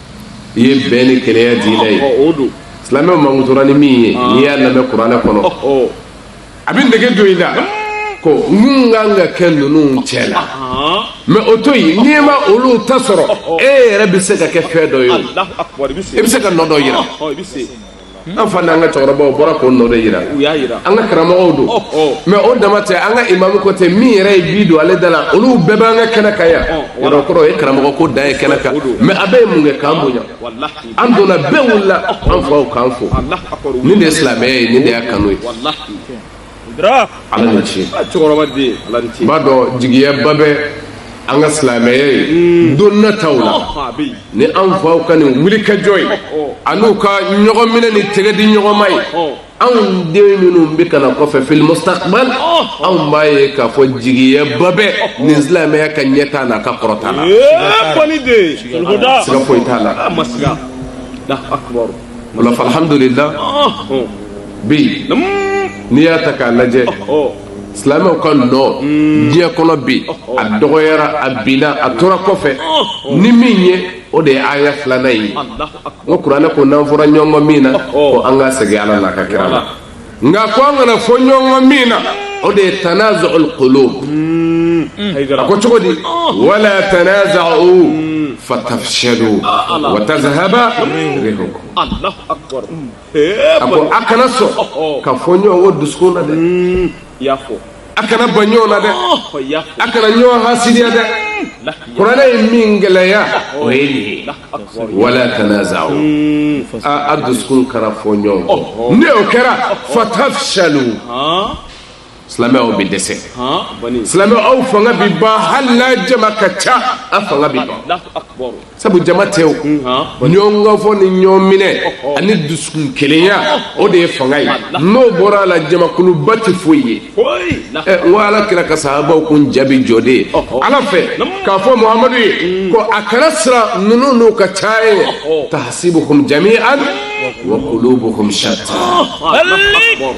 i ye bɛn ni kelenya diinɛ ye silamɛw mankutura ni min ye n'i y'a lamɛn kuranɛ kɔnɔ a bɛ nege don i la ko n kun kan ka kɛ ninnu cɛ la mɛ o to yen n'i ma olu ta sɔrɔ e yɛrɛ bɛ se ka kɛ fɛn dɔ ye o i bɛ se ka nɔ dɔ yira An fa n'an ka cɛkɔrɔbaw bɔra k'o nɔ de yira an ka karamɔgɔw don mɛ o dama tɛ an ka imamu kɔcɛ min yɛrɛ ye bi don ale da la olu bɛɛ bɛ an ka kɛnɛ kan yan kɔrɔ ye karamɔgɔ ko dan ye kɛnɛ kan mɛ a bɛɛ ye mun kɛ k'an bonya an donna bɛɛ wulila an faw k'an fo nin de silamɛya ye nin de y'a kanu ye ala ni ce i b'a dɔn jigiyaba bɛ an ka silamɛya ye hmm. don nataw la oh, ni an faw ka nin wulikajɔ ye oh, oh. an'u ka ɲɔgɔn minɛ ni tɛgɛ di ɲɔgɔn ma ye anw den minnu bɛ ka na kɔfɛ fil mustaqbal anw b'a ye k'a fɔ jigiyaba bɛ nin silamɛya ka ɲɛtaa n'a ka kɔrɔta la siga foyi t'a la ah, o la alhamdulillah bi n'i y'a ta k'a lajɛ silamɛw ka nɔ diɲɛ kɔnɔ bi a dɔgɔyara a binna a tora kɔfɛ ni min ye o de ye aya filanan ye o kuranɛ ko n'an fɔra ɲɔgɔn min na ko an ka segin ala n'a ka kira la nka ko an kana fɔ ɲɔgɔn min na o de ye tanazu'ul qulub a ko cogo di wala tanaza'u fatafshalu wa tazhaba a ko a kana sɔn ka fɔ ɲɔgɔn kɔ dusukun na dɛ mm, i y'a fɔ a kana ban ɲɔgɔn na dɛ a kana ɲɔgɔn hasidiya dɛ kuranɛ ye min gɛlɛya o ye nin ye wala tanaza'u a dusukun kana fɔ ɲɔgɔn kɔ n'o kɛra fatafshalu silamɛw aw bɛ dɛsɛ silamɛw aw fanga bɛ ban hali n'a jama ka ca a fanga bɛ ban sabu jama tɛ o ɲɔgɔn kafo ni ɲɔgɔn minɛ ani dusukun kelenya o de ye fanga ye n'o bɔra a la jamakuluba tɛ foyi ye n ko ala kira ka sahabaw kun jaabi jɔ de ye ala fɛ k'a fɔ muhamadu ye ko a kana siran ninnu n'u ka caya ye tahsibuhum jami'an wa qulubuhum shatta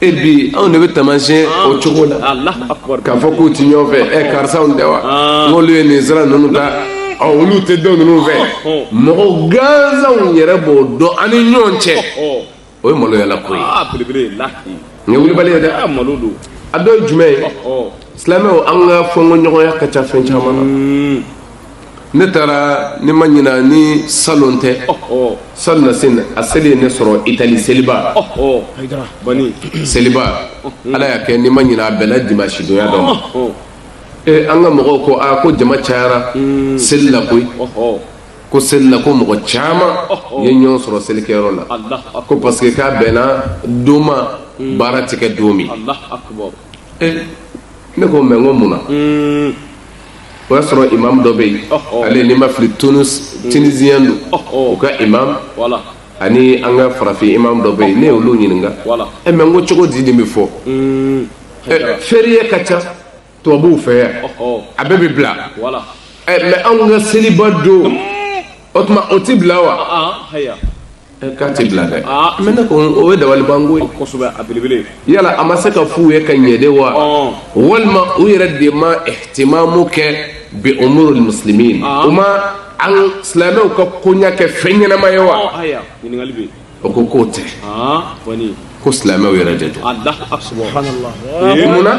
e bi anw de bɛ taamasiyɛn o cogo la k'a fɔ k'u ti ɲɔgɔn fɛ ɛ karisaw tɛ wa n'olu ye nin sira ninnu ta olu tɛ dɔn ninnu fɛ mɔgɔ gansanw yɛrɛ b'o dɔn an ni ɲɔgɔn cɛ o ye maloyala ko ye nin ye wulibali ye dɛ a dɔ ye jumɛn ye silamɛw an ka fɔnkoɲɔgɔnya ka ca fɛn caman na ne taara ni n ma ɲina ni salon tɛ salonnasini a seli ye ne sɔrɔ itali seliba seliba ala y'a kɛ ni n ma ɲina a bɛnna dimansi donya dɔ ma ee an ka mɔgɔw ko aa ko jama cayara hmm. seli la koyi ko seli la ko mɔgɔ caman ye ɲɔgɔn sɔrɔ selikɛyɔrɔ la ko parce que k'a bɛnna don ma hmm. baara tɛ kɛ don min ne ko mɛ ko mun na hmm. o y'a sɔrɔ imamu dɔ bɛ yen ale ni n ma fili tunisiyɛn don u ka imam ani an ka farafin imam dɔ bɛ yen ne y'olu ɲininka e mɛ n ko cogo di nin bɛ fɔ férié ka ca tubabuw fɛ yan a bɛɛ bɛ bila mɛ an ka seliba don o tuma o tɛ bila wa k'a tɛ bila dɛ mɛ ne ko o ye dabalibanko ye kosɛbɛ a belebele yala a ma se ka f'u ye ka ɲɛ de wa walima u yɛrɛ de ma ihtimamu kɛ bi umurul muslimin u ma an silamɛw ka koɲa kɛ fɛn ɲɛnama ye wa o ko k'o tɛ ko silamɛw yɛrɛ de don munna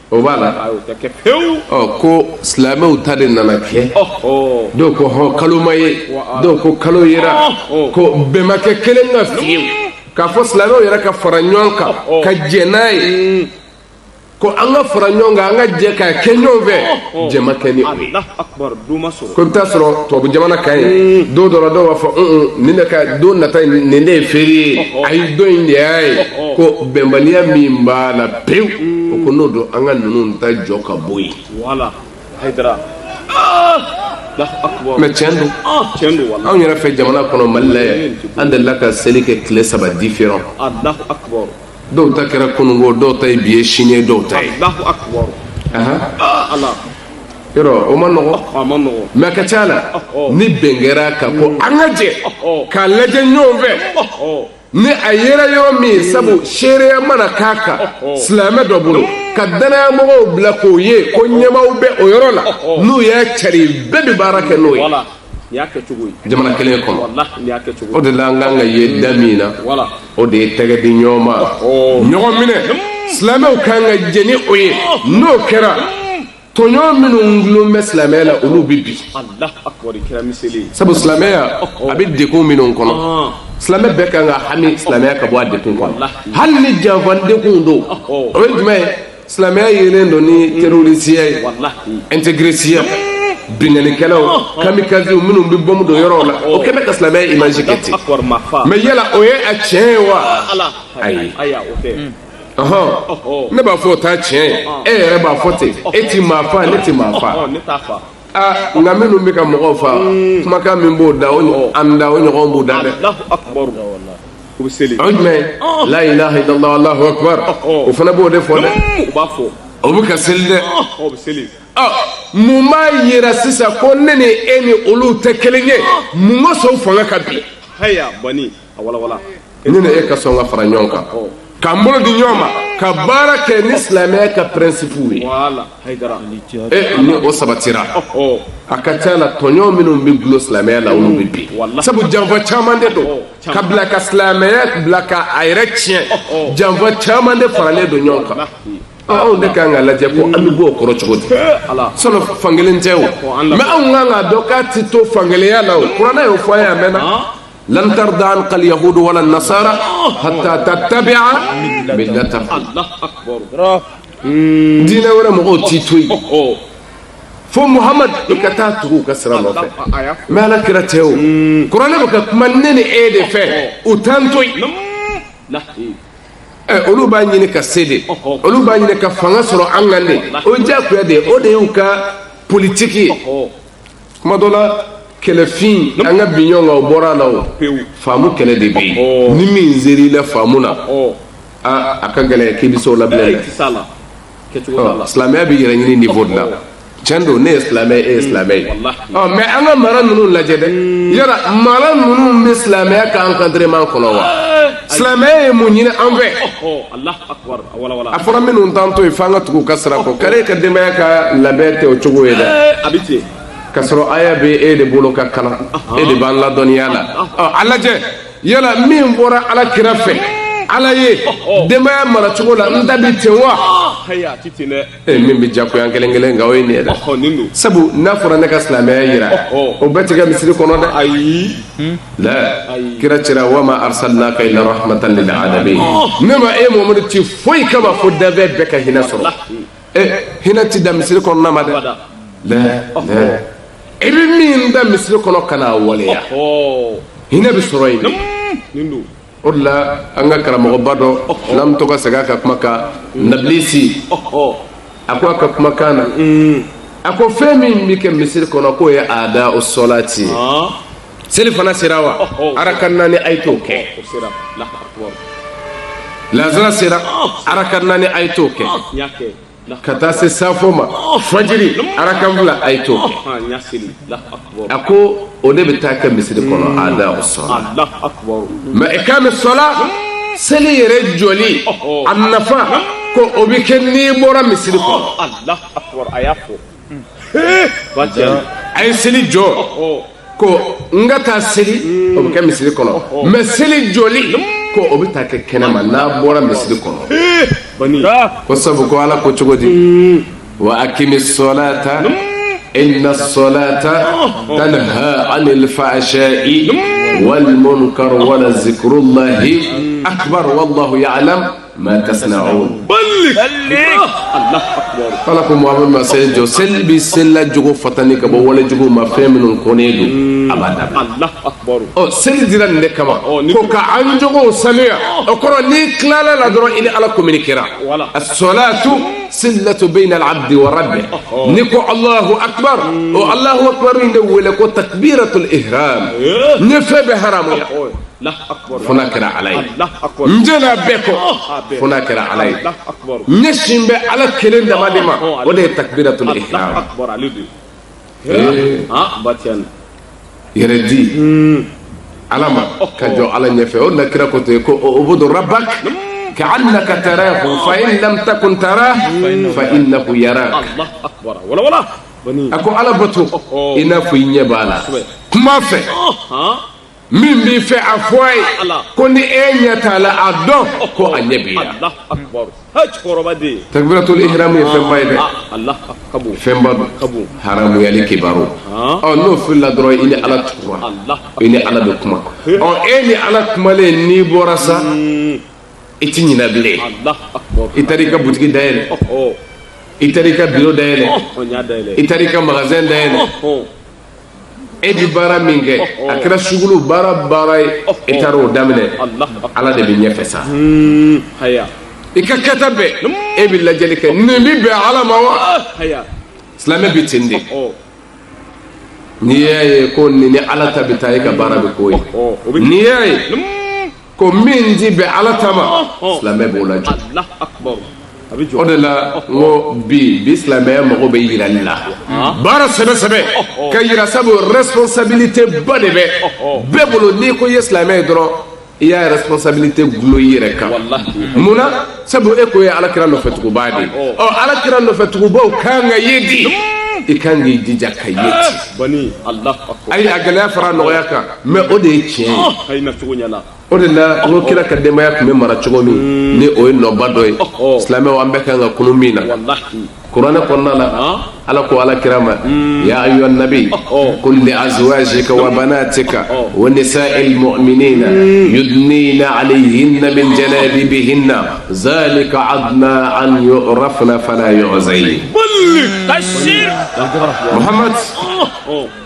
o b'a la ko silamɛw ta de nana kɛ dɔw ko hɔn kalo ma ye dɔw ko kalo yera ko bɛn ma kɛ kelen kan fiyewu k'a fɔ silamɛw yɛrɛ ka fara ɲɔgɔn kan ka jɛ n'a ye ko an ka fara ɲɔgɔn kan an ka jɛ k'a kɛ ɲɔgɔn fɛ jɛ ma kɛ ni o ye ko i bɛ taa sɔrɔ tubabu jamana ka ye don dɔ la dɔw b'a fɔ nin de ka don nata nin de ye férié ye ayi don in de y'a ye ko bɛnbaliya min b'a la pewu o ko n'o don an ka ninnu ta jɔ ka bɔ yen mɛ tiɲɛ don anw yɛrɛ fɛ jamana kɔnɔ mali la yan an delila ka seli kɛ tile saba différent dɔw ta kɛra kunungo dɔw ta ye bi ye sini ye dɔw ta ye yɔrɔ o man nɔgɔ mɛ a ka ca la ni bɛn kɛra a kan ko an ka jɛ k'a lajɛ ɲɔgɔn fɛ ni a yera yɔrɔ min sabu seereya mana k'a kan silamɛ dɔ bolo ka dannayamɔgɔw bila k'o ye ko ɲɛmaaw bɛ o yɔrɔ la n'u y'a cari bɛɛ bɛ baara kɛ n'o ye jamana kelen kɔnɔ o de la an kan ka ye da min na o de ye tɛgɛ di ɲɔgɔn ma ɲɔgɔn minɛ silamɛw kan ka jɛ ni o ye n'o kɛra tɔɲɔn minnu dulon bɛ silamɛya la olu bɛ bin sabu silamɛya a bɛ degun minnu kɔnɔ silamɛ bɛɛ kan ka hami silamɛya ka bɔ a degun kɔnɔ hali ni janfa degun don o ye jumɛn ye silamɛya yelen don ni terorisiya ye ɛntegresiya binkannikɛlaw kamikaziw minnu bɛ bɔmu don yɔrɔw la o kɛ bɛ ka silamɛya imaji kɛ ten mɛ yala o ye a tiɲɛ ye wa ayi ne b'a fɔ o t'a tiɲɛ ye e yɛrɛ b'a fɔ ten e ti maa fa ne ti maa fa aa nka minnu bɛ ka mɔgɔw fa hmm. kumakan min b'o da o ɲɔgɔn an da o ɲɔgɔn b'u da dɛ o bɛ seli o jumɛn la ilaha illallah alahu akbar o fana b'o de fɔ dɛ hmm, o b'a fɔ o bɛ ka seli dɛ o bɛ seli mun b'a yira sisan ko ne ni e ni olu tɛ kelen ye mun kosɔn fanga ka bi haya bɔnni ne ni e ka sɔn ka fara ɲɔgɔn kan k'an bolo di ɲɔgɔn ma ka baara kɛ ni silamɛya ka pɛrɛnsipuw ye e ni o sabatira a ka ca la tɔɲɔn minnu bɛ dulon silamɛya la olu bɛ bin sabu janfa caman de don ka bila ka silamɛya bila ka a yɛrɛ tiɲɛ janfa caman de faralen don ɲɔgɔn kan anw de ka kan ka lajɛ ko an bɛ bɔ o kɔrɔ cogo di sɔnni fankelen tɛ o mɛ anw kan ka dɔn k'a tɛ to fankelenya la o kuranɛ y'o fɔ an ye a mɛnna lan tarda anka alyahud wala nasara hatta tattabia millatahum allah akbar hmm. diinɛ wɛrɛ mɔgɔw t'i to yen oh, oh. fo muhamad i ka taa tugu u ka sira nɔfɛ mɛ ala kira tɛ o hmm. kuranɛ bɛ ka kuma ne ni e de fɛ oh, u t'an to yen Eh, olu b'a ɲini ka se de olu b'a ɲini ka fanga sɔrɔ an kan de o ye diyagoya de ye o de y'u ka politiki ye kuma dɔ la kɛlɛfin an ka bin ɲɔgɔn kan o bɔra a la o faamu kɛlɛ de bɛ yen oh. ni min ser'i la faamu na oh. aa a ka gɛlɛn k'i bɛ se o la bilen dɛ silamɛya bɛ yɛrɛ ɲini niveau de la oh. tiɲɛ don ne ye silamɛ ye e ye silamɛ ye ɔ mɛ an ka mara ninnu lajɛ dɛ hmm. yala mara ninnu bɛ silamɛya ka encadrement kɔnɔ wa silamɛya ye mun ɲini an fɛ. a fɔra minnu t'an to yen fo an ka tugu u ka sira kɔ kari ka denbaya ka labɛn tɛ o cogo ye dɛ ka sɔrɔ aya bɛ e de bolo ka kalan e de banna dɔnniya la a lajɛ yala min bɔra ala kira fɛ ala ye denbaya mara cogo la an ta bi ten wa min bɛ jagoya kelen kelen nka o ye nin ye dɛ sabu n'a fɔra ne ka silamɛya jira o bɛɛ ti kɛ misiri kɔnɔ dɛ ala kira cira wa ma arsalnaka illa rahmatan lil alamin ne ma e mamadu ci foyi kama fo danfɛn bɛɛ ka hinɛ sɔrɔ ɛ hinɛ tɛ dan misiri kɔnɔna ma dɛ i bɛ min ta misiri kɔnɔ ka n'a waleya hinɛ bɛ sɔrɔ yen o de la an ka karamɔgɔba dɔ n'an bɛ to ka segin a ka kuma kan nabilisi a ko a ka kumakan na a ko fɛn min bɛ kɛ misiri kɔnɔ k'o ye adaa'u salati ye selifana sera wa araka naani a ye t'o kɛ lansara sera araka naani a ye t'o kɛ ka taa se safo ma fajiri araka fila a ye t'o kɛ a ko o de bɛ taa kɛ misiri kɔnɔ adaa'u sala mɛ iqami sala seli yɛrɛ jɔli a nafa ko o bɛ kɛ n'i bɔra misiri kɔnɔ a ye seli jɔ ko n ka taa seli o bɛ kɛ misiri kɔnɔ mɛ seli jɔli ko o bɛ taa kɛ kɛnɛma n'a bɔra misiri kɔnɔ ko sabu ko ala ko cogo di wa aqimis salata innas salata tanha anil fahsha'i wal munkar wa la zikrullahi akbar wallahu ya'lamu ma tasna'un balligh Allah akbar ala ko muhamadu ma seli jɔ seli bɛ selila jogo fatani ka bɔ wale jugu ma fɛn minnu kɔnnen don a b'a dabila Allah akbar ɔ seli dira nin de kama Ɔ, ni- ko ka an jogow sanuya o kɔrɔ n'i tilala la dɔrɔn i ni ala kominikera Wala. assalatu silatu baynal abdi wa rabbi n'i ko alahu akbar o alahu akbar in de wele ko takbiratul ihram n ye fɛn bɛɛ haramuya fo n'a kɛra ala ye n jɛnna bɛɛ kɔ fo n'a kɛra ala ye n ɲɛsin bɛ ala kelen dama de ma o de ye takbiratul ihram yɛrɛ di ala ma ka jɔ ala ɲɛfɛ o na kira ko ten ko u'bud rabbaka ka'annaka tarahu fa in lam takun tarahu fa innahu yarak a ko ala bato i n'a fɔ i ɲɛ b'a la kuma fɛn min b'i fɛ a fɔ a ye ko ni e ɲɛ t'a la a dɔn ko a ɲɛ b'i la takbiratul ihram ye fɛnba ye dɛ fɛnba don haramuyali kabaru ɔ n'o filila dɔrɔn i ni ala tugura i ni ala bɛ kuma ɔ e ni ala kumalen n'i bɔra sa hmm. i ti ɲinɛ bilen i taara i ka butigi dayɛlɛ i taara i ka biro dayɛlɛ i taara i ka magasin dayɛlɛ e bɛ baara min kɛ a kɛra sugukolo baara baara ye e taara o daminɛ ala de bɛ ɲɛfɛ sa i ka kɛta bɛɛ e bɛ lajɛli kɛ nin bɛ bɛn ala ma wa silamɛ bɛ ten de n'i y'a ye ko nin ni ala ta bɛ taa e ka baara bɛ k'o ye n'i y'a ye ko min tɛ bɛn ala ta ma silamɛ b'o lajɔ o de la n ko bi bi silamɛya mago bɛ yirali la baara sɛbɛ sɛbɛ ka yira sabu responsabilité ba de bɛ bɛɛ bolo n'i ko i ye silamɛ ye dɔrɔn i y'a responsabilité dulon i yɛrɛ kan mun na sabu e ko ye ala kira nɔfɛtugubaa de ye ɔ ala kira nɔfɛtugubaw kan ka ye di i kan k'i jija ka ye ten ayi a gɛlɛya fara nɔgɔya kan mɛ o de ye tiɲɛ ye o de la n ko kira ka denbaya tun bɛ mara cogo min hmm. ni o ye nɔba dɔ ye silamɛ an bɛɛ kan ka kunun min na kuranɛ kɔnɔna la ala ko ala kira ma hmm. ya ayyuhan nabi qul li azwajika wa banatika wa nisa'il mu'minina yudnina alayhinna min jalabibihinna zalika adna an yu'rafna fala yu'zayn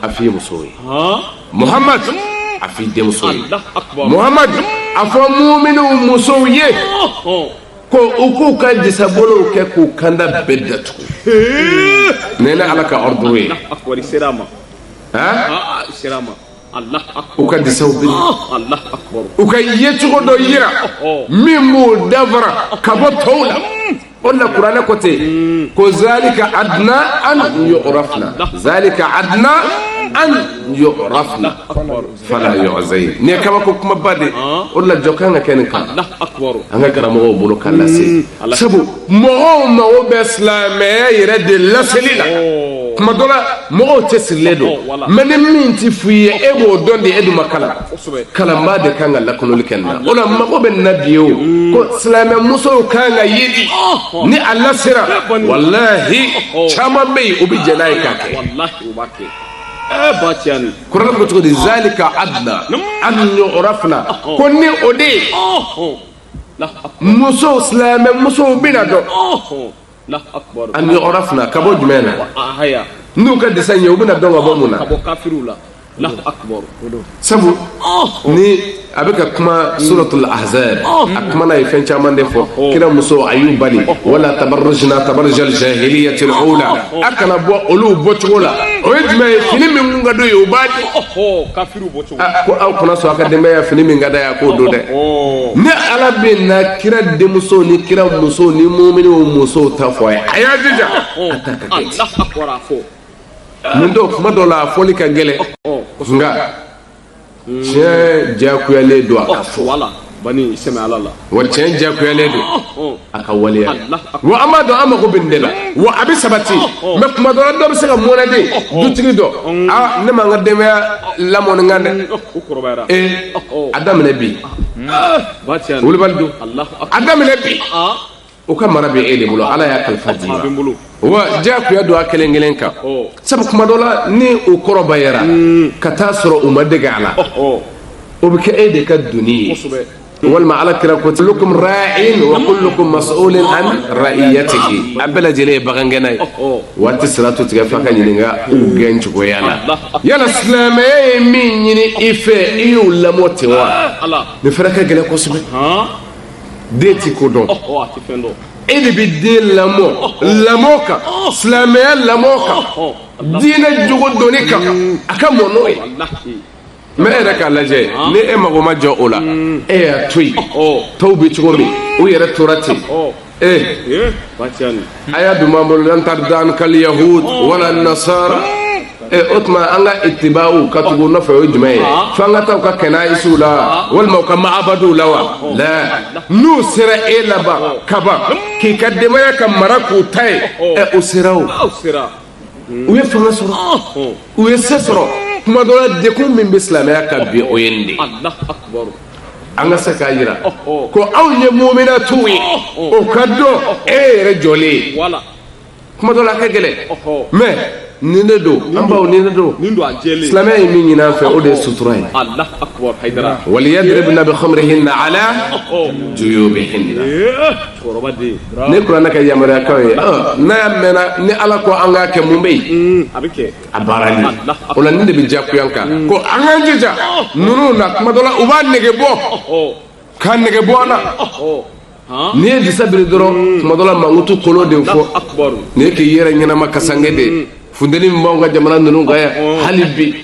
a fɔ i muso ye muhamadu a fɔ i denmuso ye muhamadu a fɔ muminu musow ye ko u k'u ka disabolow kɛ k'u kanda bɛɛ datugu nin ye ala ka ordre ye u ka disaw biri u ka yecogo dɔ yira min b'u danfara ka bɔ tɔw la o de la kuranɛ ko ten ko zalika adna an yu'rafna zalika adna an yu'rafna fala yu'zayn nin ye kabako kumaba de o de la jɔ kan ka kɛ nin kan an ka karamɔgɔw bolo ka lase sabu mɔgɔw mago bɛ silamɛya yɛrɛ de laseli la kuma dɔ la mɔgɔw cɛsirilen don mɛ ni min tɛ f'i ye e b'o dɔn de e dun ma kalan kalanbaa de kan ka lakununli kɛ nin na o la mago bɛ nin na bi o ko silamɛ musow kan ka ye di ni a lasera walahi caman bɛ yen o bɛ jɛn n'a ye k'a kɛ kuranɛ ko cogo di zalika adna an yu'rafna ko ni o de ye musow silamɛ musow bɛna dɔn an yu'rafna ka bɔ jumɛn na n'u ka disa ye u bɛna dɔn ka bɔ mun na sabu ni a bɛ ka kuma suratul ahzab a kumana ye fɛn caman de fɔ kira musow a y'u bali wala tabarrujna tabarrujal jahiliyatil ula a kana bɔ olu bɔcogo la o ye jumɛn ye fini min kun ka d'u ye u b'a di ko aw kana sɔn a ka denbaya fini min ka d'a ye a k'o don dɛ ne ala bɛna kira denmusow ni kira musow ni muminu musow ta fɔ a ye a y'a jija a ta ka kɛ nin don kuma dɔ la a fɔli ka gɛlɛn nka tiɲɛ diyakuyalen don a ka fɔ bani sɛmɛ ala la wa tiɲɛ diyagoyalen don oh. a ka waleya wa an b'a dɔn an mago bɛ nin de la wa a bɛ sabati oh, oh. mɛ kuma dɔ la dɔ bɛ se ka mɔnɛden dutigi dɔ mm. aa ah, ne ma n ka denbaya lamɔ nin kan dɛ mm, ee eh, a daminɛ bi ah. wulibali don a daminɛ bi ah. o ka mara bɛ e de bolo ala y'a kalifa d'i ma wa diyagoya don a kelen kelen kan sabu kuma dɔ la ni o kɔrɔbayara hmm. ka taa sɔrɔ u ma dege a la o bɛ kɛ e de ka doni ye walima ala kira ko kullukum ra'in wa kullukum mas'ulun an ra'iyatihi a bɛɛ lajɛlen ye bagangɛnna ye wa a ti siratu tigɛ f'a ka ɲininka u gɛn cogoya la yala silamɛya ye min ɲini i fɛ i y'o lamɔ ten wa nin fɛnɛ ka gɛlɛn kosɛbɛ den ti ko dɔn e de bɛ den lamɔ lamɔ kan silamɛya lamɔ kan diinɛ jogo dɔnni kan a ka mɔ n'o ye mɛ e yɛrɛ k'a lajɛ ni e mago ma jɔ o la e y'a to yen tɔw bɛ cogo min u yɛrɛ tora ten eh bacani eh? aya dun b'an bolo lan tarda ankal yahud wala nasara eh o tuma an ka itiba'u ka tugu u nɔfɛ o ye jumɛn ye ah. f'an ka taa u ka kanayisiw la wa ah. walima u ka ma'abadiw la wa oh. la n'u sera e la ban oh. kaban k'i ka denbaya ka mara k'u ta ye oh. eh o sera o u ye fanga sɔrɔ u ye se sɔrɔ kuma dɔ la degun min bɛ silamɛya kan bi o ye nin de an ka se k'a jira ko anw ye muminatu ye o ka dɔn e yɛrɛ jɔlen ye kuma dɔ la a ka gɛlɛn mɛ nin de don an baw nin de don silamɛya ye min ɲini an fɛ o de ye sutura ye waliyadribna bi khumurihinna ala juyubihinna nin ye kuranɛ ka yamaruyakanw ye n'a y'a mɛnna ni ala ko an k'a kɛ mun bɛ yen a baarali o la nin de bɛ diyagoya an kan ko an k'an jija ninnu na kuma dɔ la u b'a nege bɔ k'a nege bɔ an na n'i ye disa biri dɔrɔn tuma dɔ la mankutu kolon de fɔ n'i ye k'i yɛrɛ ɲɛnama kasange de funteni min b'anw ka jamana ninnu kan yan hali bi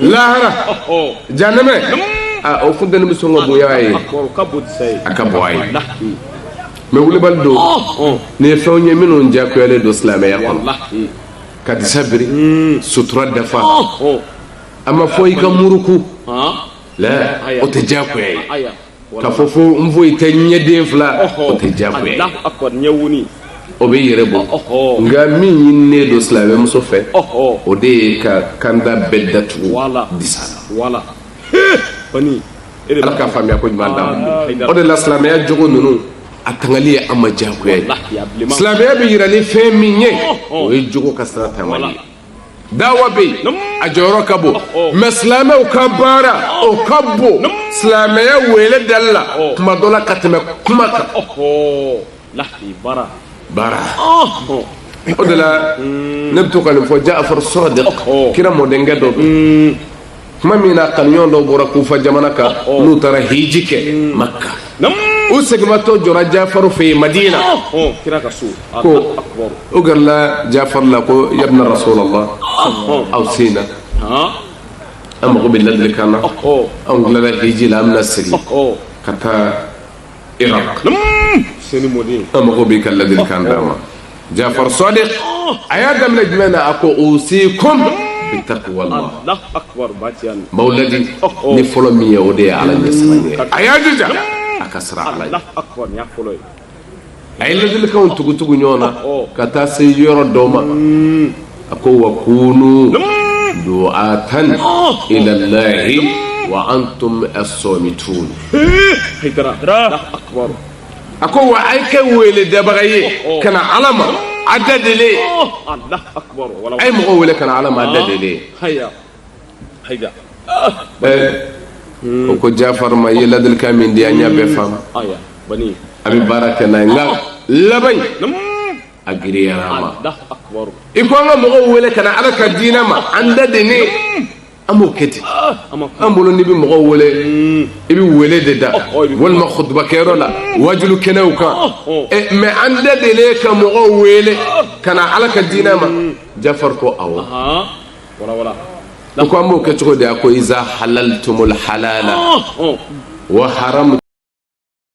lahara janɛmɛ o funteni bɛ sɔn ka bonya a ye a ka bon a ye mɛ wulibali don nin ye fɛnw ye minnu diyagoyalen don silamɛya kɔnɔ ka disa biri sutura dafa a ma fɔ i ka muruku la o tɛ diyagoya ye ka fɔ fo n foyi tɛ ɲɛden fila o tɛ diyagoya ye o bɛ yɛrɛ bɔ nka min ɲininen don silamɛmuso fɛ o de ye ka kanda bɛɛ datugu disa la ala ka faamuya ko ɲuman d'a ma o de la silamɛya jogo ninnu a tangali ye an ma diyagoya ye silamɛya bɛ jira ni fɛn min ye o ye jogo ka sira taamali ye daawa bɛ yen a jɔyɔrɔ ka bon mɛ silamɛw ka baara o ka bon silamɛya wele dali la tuma dɔ la ka tɛmɛ kuma kan baara o de la ne bɛ to ka nin fɔ Jafar Sadiq kira mɔdenkɛ dɔ don tuma min na kanuɲɔgɔn dɔw bɔra kufa jamana kan n'u taara hiji kɛ maka u segimatɔ jɔra jafaru fɛ yen madina ko u gɛrɛla jafaru la ko yabna rasulallah aw sen na an mago bɛ ladilikan na anw tilala hiji la an bɛna segin ka taa Irak seni mɔden an mago b'i ka ladilikan d'an ma Jafar Sadiq a y'a daminɛ jumɛn na a ko usikum bitaqwallah Allahu akbar ba ti yan n b'aw ladi ni fɔlɔ min ye o de ye Ala ɲɛsiran ye a y'a jija a ka siran Ala ɲɛ Allahu akbar nin y'a fɔlɔ ye a ye ladilikanw tugu-tugu ɲɔgɔn na ka taa se yɔrɔ dɔw ma a ko wa kunu du'atan ilallahi wa antum as-samitun a ko wa a ye kɛ wele dabaga ye ka na ala ma a da delen a ye mɔgɔ wele ka na ala ma a da delen u ko jafari ma i ye ladilikan min di an y'a bɛɛ faamu an bɛ baara kɛ n'a ye nka laban a giriyara an ma i ko an ka mɔgɔw wele ka na ala ka diinɛ ma an da delen an b'o kɛ di an bolo n'i bɛ mɔgɔw wele i bɛ wele de da walima kutubakɛyɔrɔ la wajulu kɛnɛw kan mɛ an da delen ka mɔgɔw wele ka na ala ka diinɛ ma jafari ko awɔ ko an b'o kɛ cogo di a ko iza halaltumul halala wa haramu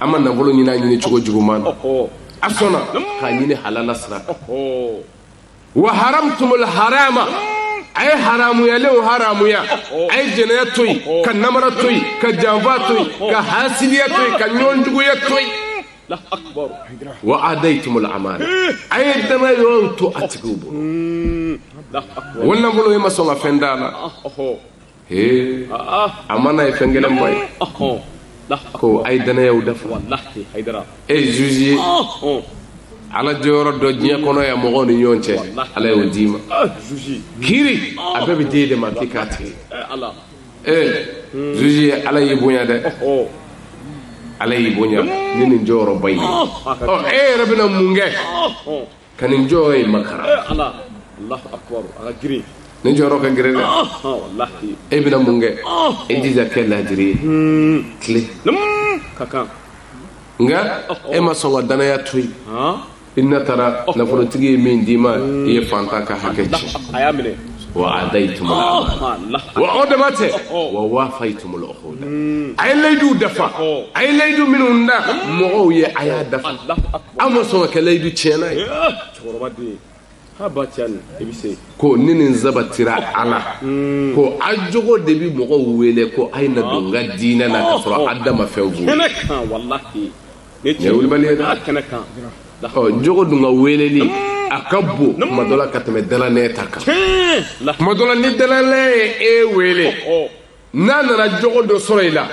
an ma nafolo ɲini a ɲini cogo juguman na a sɔnna k'a ɲini halala sira kan wa haramtumul harama a ye haramuyalenw haramuya a ye jɛnɛya to yen ka namara to yen ka janfa to yen ka hasidiya to yen ka ɲɔgɔn juguya to yen wa adaitumul amana a ye danayɔrɔw to a tigiw bolo wa nafolo ye ma sɔn ka fɛn d'a la Ee amana ye fɛn gɛlɛnba ye ko a ye danayaw dafa e ye zuzi ye ala jɔyɔrɔ dɔ diɲɛ kɔnɔ yan mɔgɔw ni ɲɔgɔn cɛ ala y'o d'i ma kiri a bɛɛ bɛ d'e de ma k'i k'a tigɛ e ye zuzi ye ala y'i bonya dɛ ala y'i bonya ni nin jɔyɔrɔba ye e yɛrɛ bɛna mun kɛ Ka nin jɔyɔrɔ in makaran nin jɔyɔrɔ ka gɛlɛn dɛ e bɛna mun kɛ e jija kɛ laadiri ye tile nka e ma sɔn ka danaya to yen i na taara nafolotigi ye min d'i ma i ye fantan ka hakɛ ci wa addaytumul amana o dama tɛ wa wafaytumul uqud a ye layidu dafa a ye layidu minnu da mɔgɔw ye a y'a dafa Aw ma sɔn ka kɛ layidu tiɲɛna ye. Cɛkɔrɔba den. K'a ba cɛya nin i bɛ se. Ko ni nin sabatira a la. Uun. Ko a jogo de bɛ mɔgɔw wele ko a ye na don n ka diinɛ na k'a sɔrɔ a da ma fɛn f'u ye. Kɛnɛ kan walahi. Nin ye tiɲɛ ye. Nin ye wulibali ye dɛ. Aa kɛnɛ kan. Ɔ jogo dun ka weleli. Uun. A ka bon. Naamu. Tuma dɔ la ka tɛmɛ dalanɛn ta kan. Tiɲɛ. Tuma dɔ la ni dalanɛn ye e wele. Ɔhɔ! n'a nana jogo dɔ sɔrɔ i la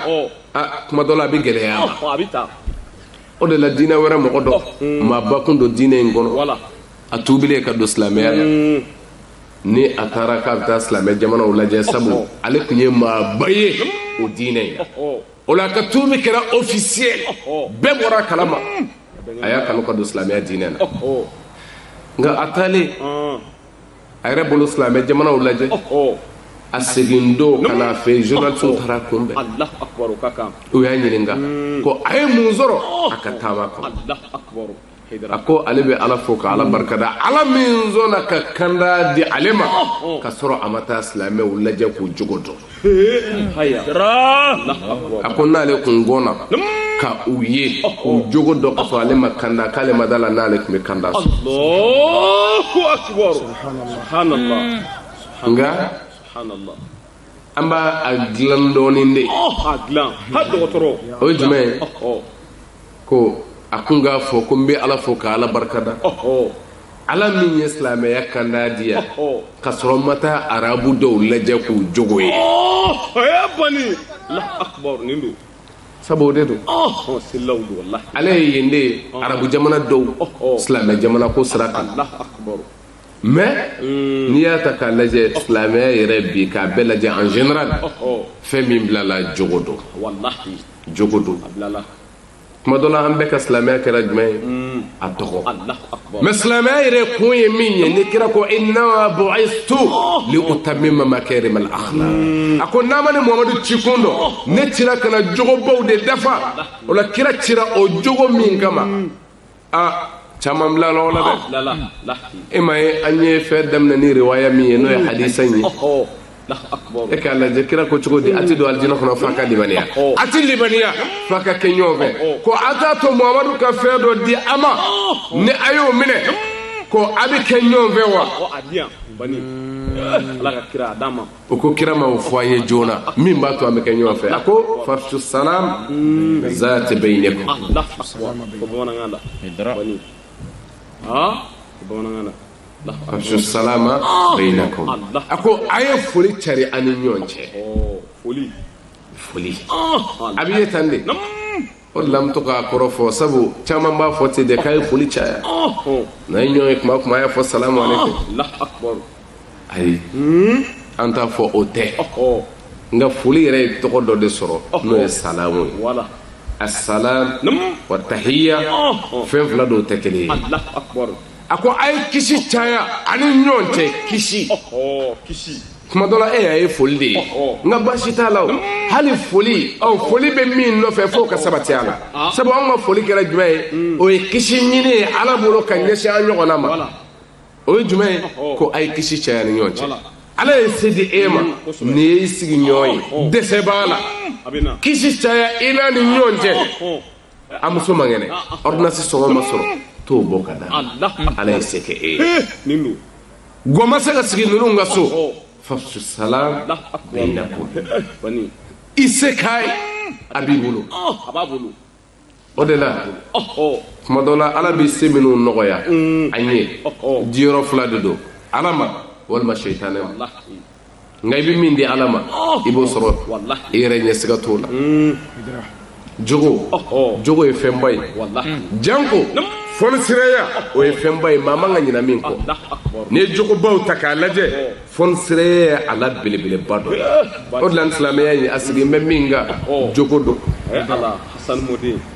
tuma dɔ la a bɛ gɛlɛya a ma o de la diinɛ wɛrɛ mɔgɔ dɔ mm. maaba kun don diinɛ in kɔnɔ a tuubilen ka don silamɛya la mm. ni a taara k'a bɛ taa silamɛ jamanaw lajɛ sabu ale tun ye maaba ye o diinɛ in na o la a ka tuubi kɛra officiel bɛɛ bɔra a kalama mm. a y'a kanu ka don silamɛya diinɛ na nka a taalen a yɛrɛ bolo silamɛ jamanaw lajɛ a segin don ka n'a fɛ journalistes taar'a kunbɛn u y'a ɲininka hmm. ko a ye mun sɔrɔ a ka taama kɔnɔ a ko ale bɛ ala fo ka ala barikada ala min sɔnna ka kanda di ale ma ka sɔrɔ a ma taa silamɛw lajɛ k'u jogo dɔn a ko n'ale kun gɔnna ka u ye k'u jogo dɔn ka sɔrɔ ale ma kanda k'ale ma da a la n'ale tun bɛ kanda nka an b'a a dilan dɔɔnin de o ye jumɛn ye ko a kun k'a fɔ ko n bɛ ala fo ka ala barikada ala min ye silamɛya kanda di yan ka sɔrɔ n ma taa arabu dɔw lajɛ k'u jogo ye sabu o de don ale ye yen de ye arabu jamana dɔw silamɛ jamana ko sira kan mais hmm. n'i y'a ta k'a lajɛ silamɛya yɛrɛ bi k'a bɛɛ lajɛ en général fɛn min bilala jogo don jogo don tuma dɔ la an bɛɛ ka silamɛya kɛra jumɛn ye mm. a tɔgɔ mais silamɛya yɛrɛ kun ye min ye ni kira ko innama bu'istu li utammima makarima al akhlaq mm. a ko n'a ma ne muhamadu ci kun dɔn oh. ne cira ka na jogobaw de dafa o la kira cira o jogo min kama mm. aa caman bilala o ko la dɛ e ma ye an ye fɛn daminɛ ni riwaya min ye n'o ye hadisa in ye e k'a lajɛ kira ko cogo di a tɛ don alijina kɔnɔ f'a ka limaniya a tɛ limaniya f'a ka kɛ ɲɔgɔn fɛ ko a t'a to muhamadu ka fɛn dɔ di a ma ni a y'o minɛ ko a bɛ kɛ ɲɔgɔn fɛ wa o ko kira ma o fɔ an ye joona min b'a to an bɛ kɛ ɲɔgɔn fɛ a ko fafsu salam zaati bainikum fafsu salama bainakum a ko a ye foli cari a ni ɲɔgɔn cɛ foli a bɛ ye tan de o de la n bɛ to k'a kɔrɔ fɔ sabu caman b'a fɔ ten de k'a ye foli caya n'a ye ɲɔgɔn ye kuma o kuma a y'a fɔ salamu aleykum ayi an t'a fɔ o tɛ nka foli yɛrɛ ye tɔgɔ dɔ de sɔrɔ n'o ye salamu ye asalaam wa tahiya fɛn fila don u tɛ kelen ye a ko a ye kisi caya a ni ɲɔgɔn cɛ kisi kuma dɔ la e y'a ye foli de ye nka baasi t'a la o hali foli ɔ foli bɛ min nɔfɛ f'o ka sabati a la ah. sabu anw ka foli kɛra jumɛn ye hmm. o ye kisi ɲini ye ala bolo ka ɲɛsin an ɲɔgɔnna ma o ye jumɛn ye ko a ye kisi caya ni ɲɔgɔn cɛ ala ye se di e ma hmm, n'i ye i sigiɲɔgɔn ye dɛsɛ b'a la hmm, kisi caya i n'a ni ɲɔgɔn cɛ a muso man kɛnɛ ordonnance sɔngɔ ma sɔrɔ t'o bɔ k'a d'a ma ala ye se kɛ e ye gwa ma se ka sigi ninnu ka so fafsu salam bainakum i se k'a ye a b'i bolo o de la tuma dɔ la ala bɛ se minnu nɔgɔya an ye diyɔrɔ fila de don ala ma walima seyitane ma nka i bɛ min di ala ma i b'o sɔrɔ i yɛrɛ ɲɛ siga t'o la jogo jogo ye fɛnba ye janko fɔnisiraya o ye fɛnba ye maa man ka ɲinɛ min kɔ n'i ye jogobaw ta k'a lajɛ fɔnisiraya ye a la belebeleba dɔ ye o de la nin silamɛya in a sigilen bɛ min kan jogo don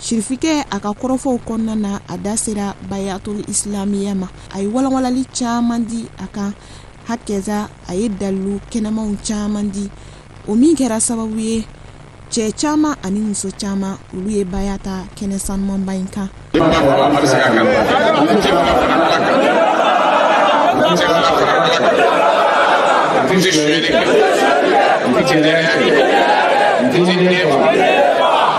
Sirifikɛ a ka kɔrɔfɔw kɔnɔna na a da sera bayatul isilamiya ma a ye walawalali caman di a kan hakɛza a ye dalilu kɛnɛmanw caman di o min kɛra sababu ye cɛ caman ani muso caman olu ye baya ta kɛnɛ sanumanba in kan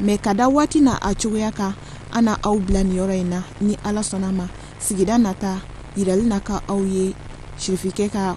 mɛ ka da waati na a cogoya kan an na aw bila nin yɔrɔ in na ni ala sɔnna ma sigida nata yirali na ka aw ye sirifikɛ ka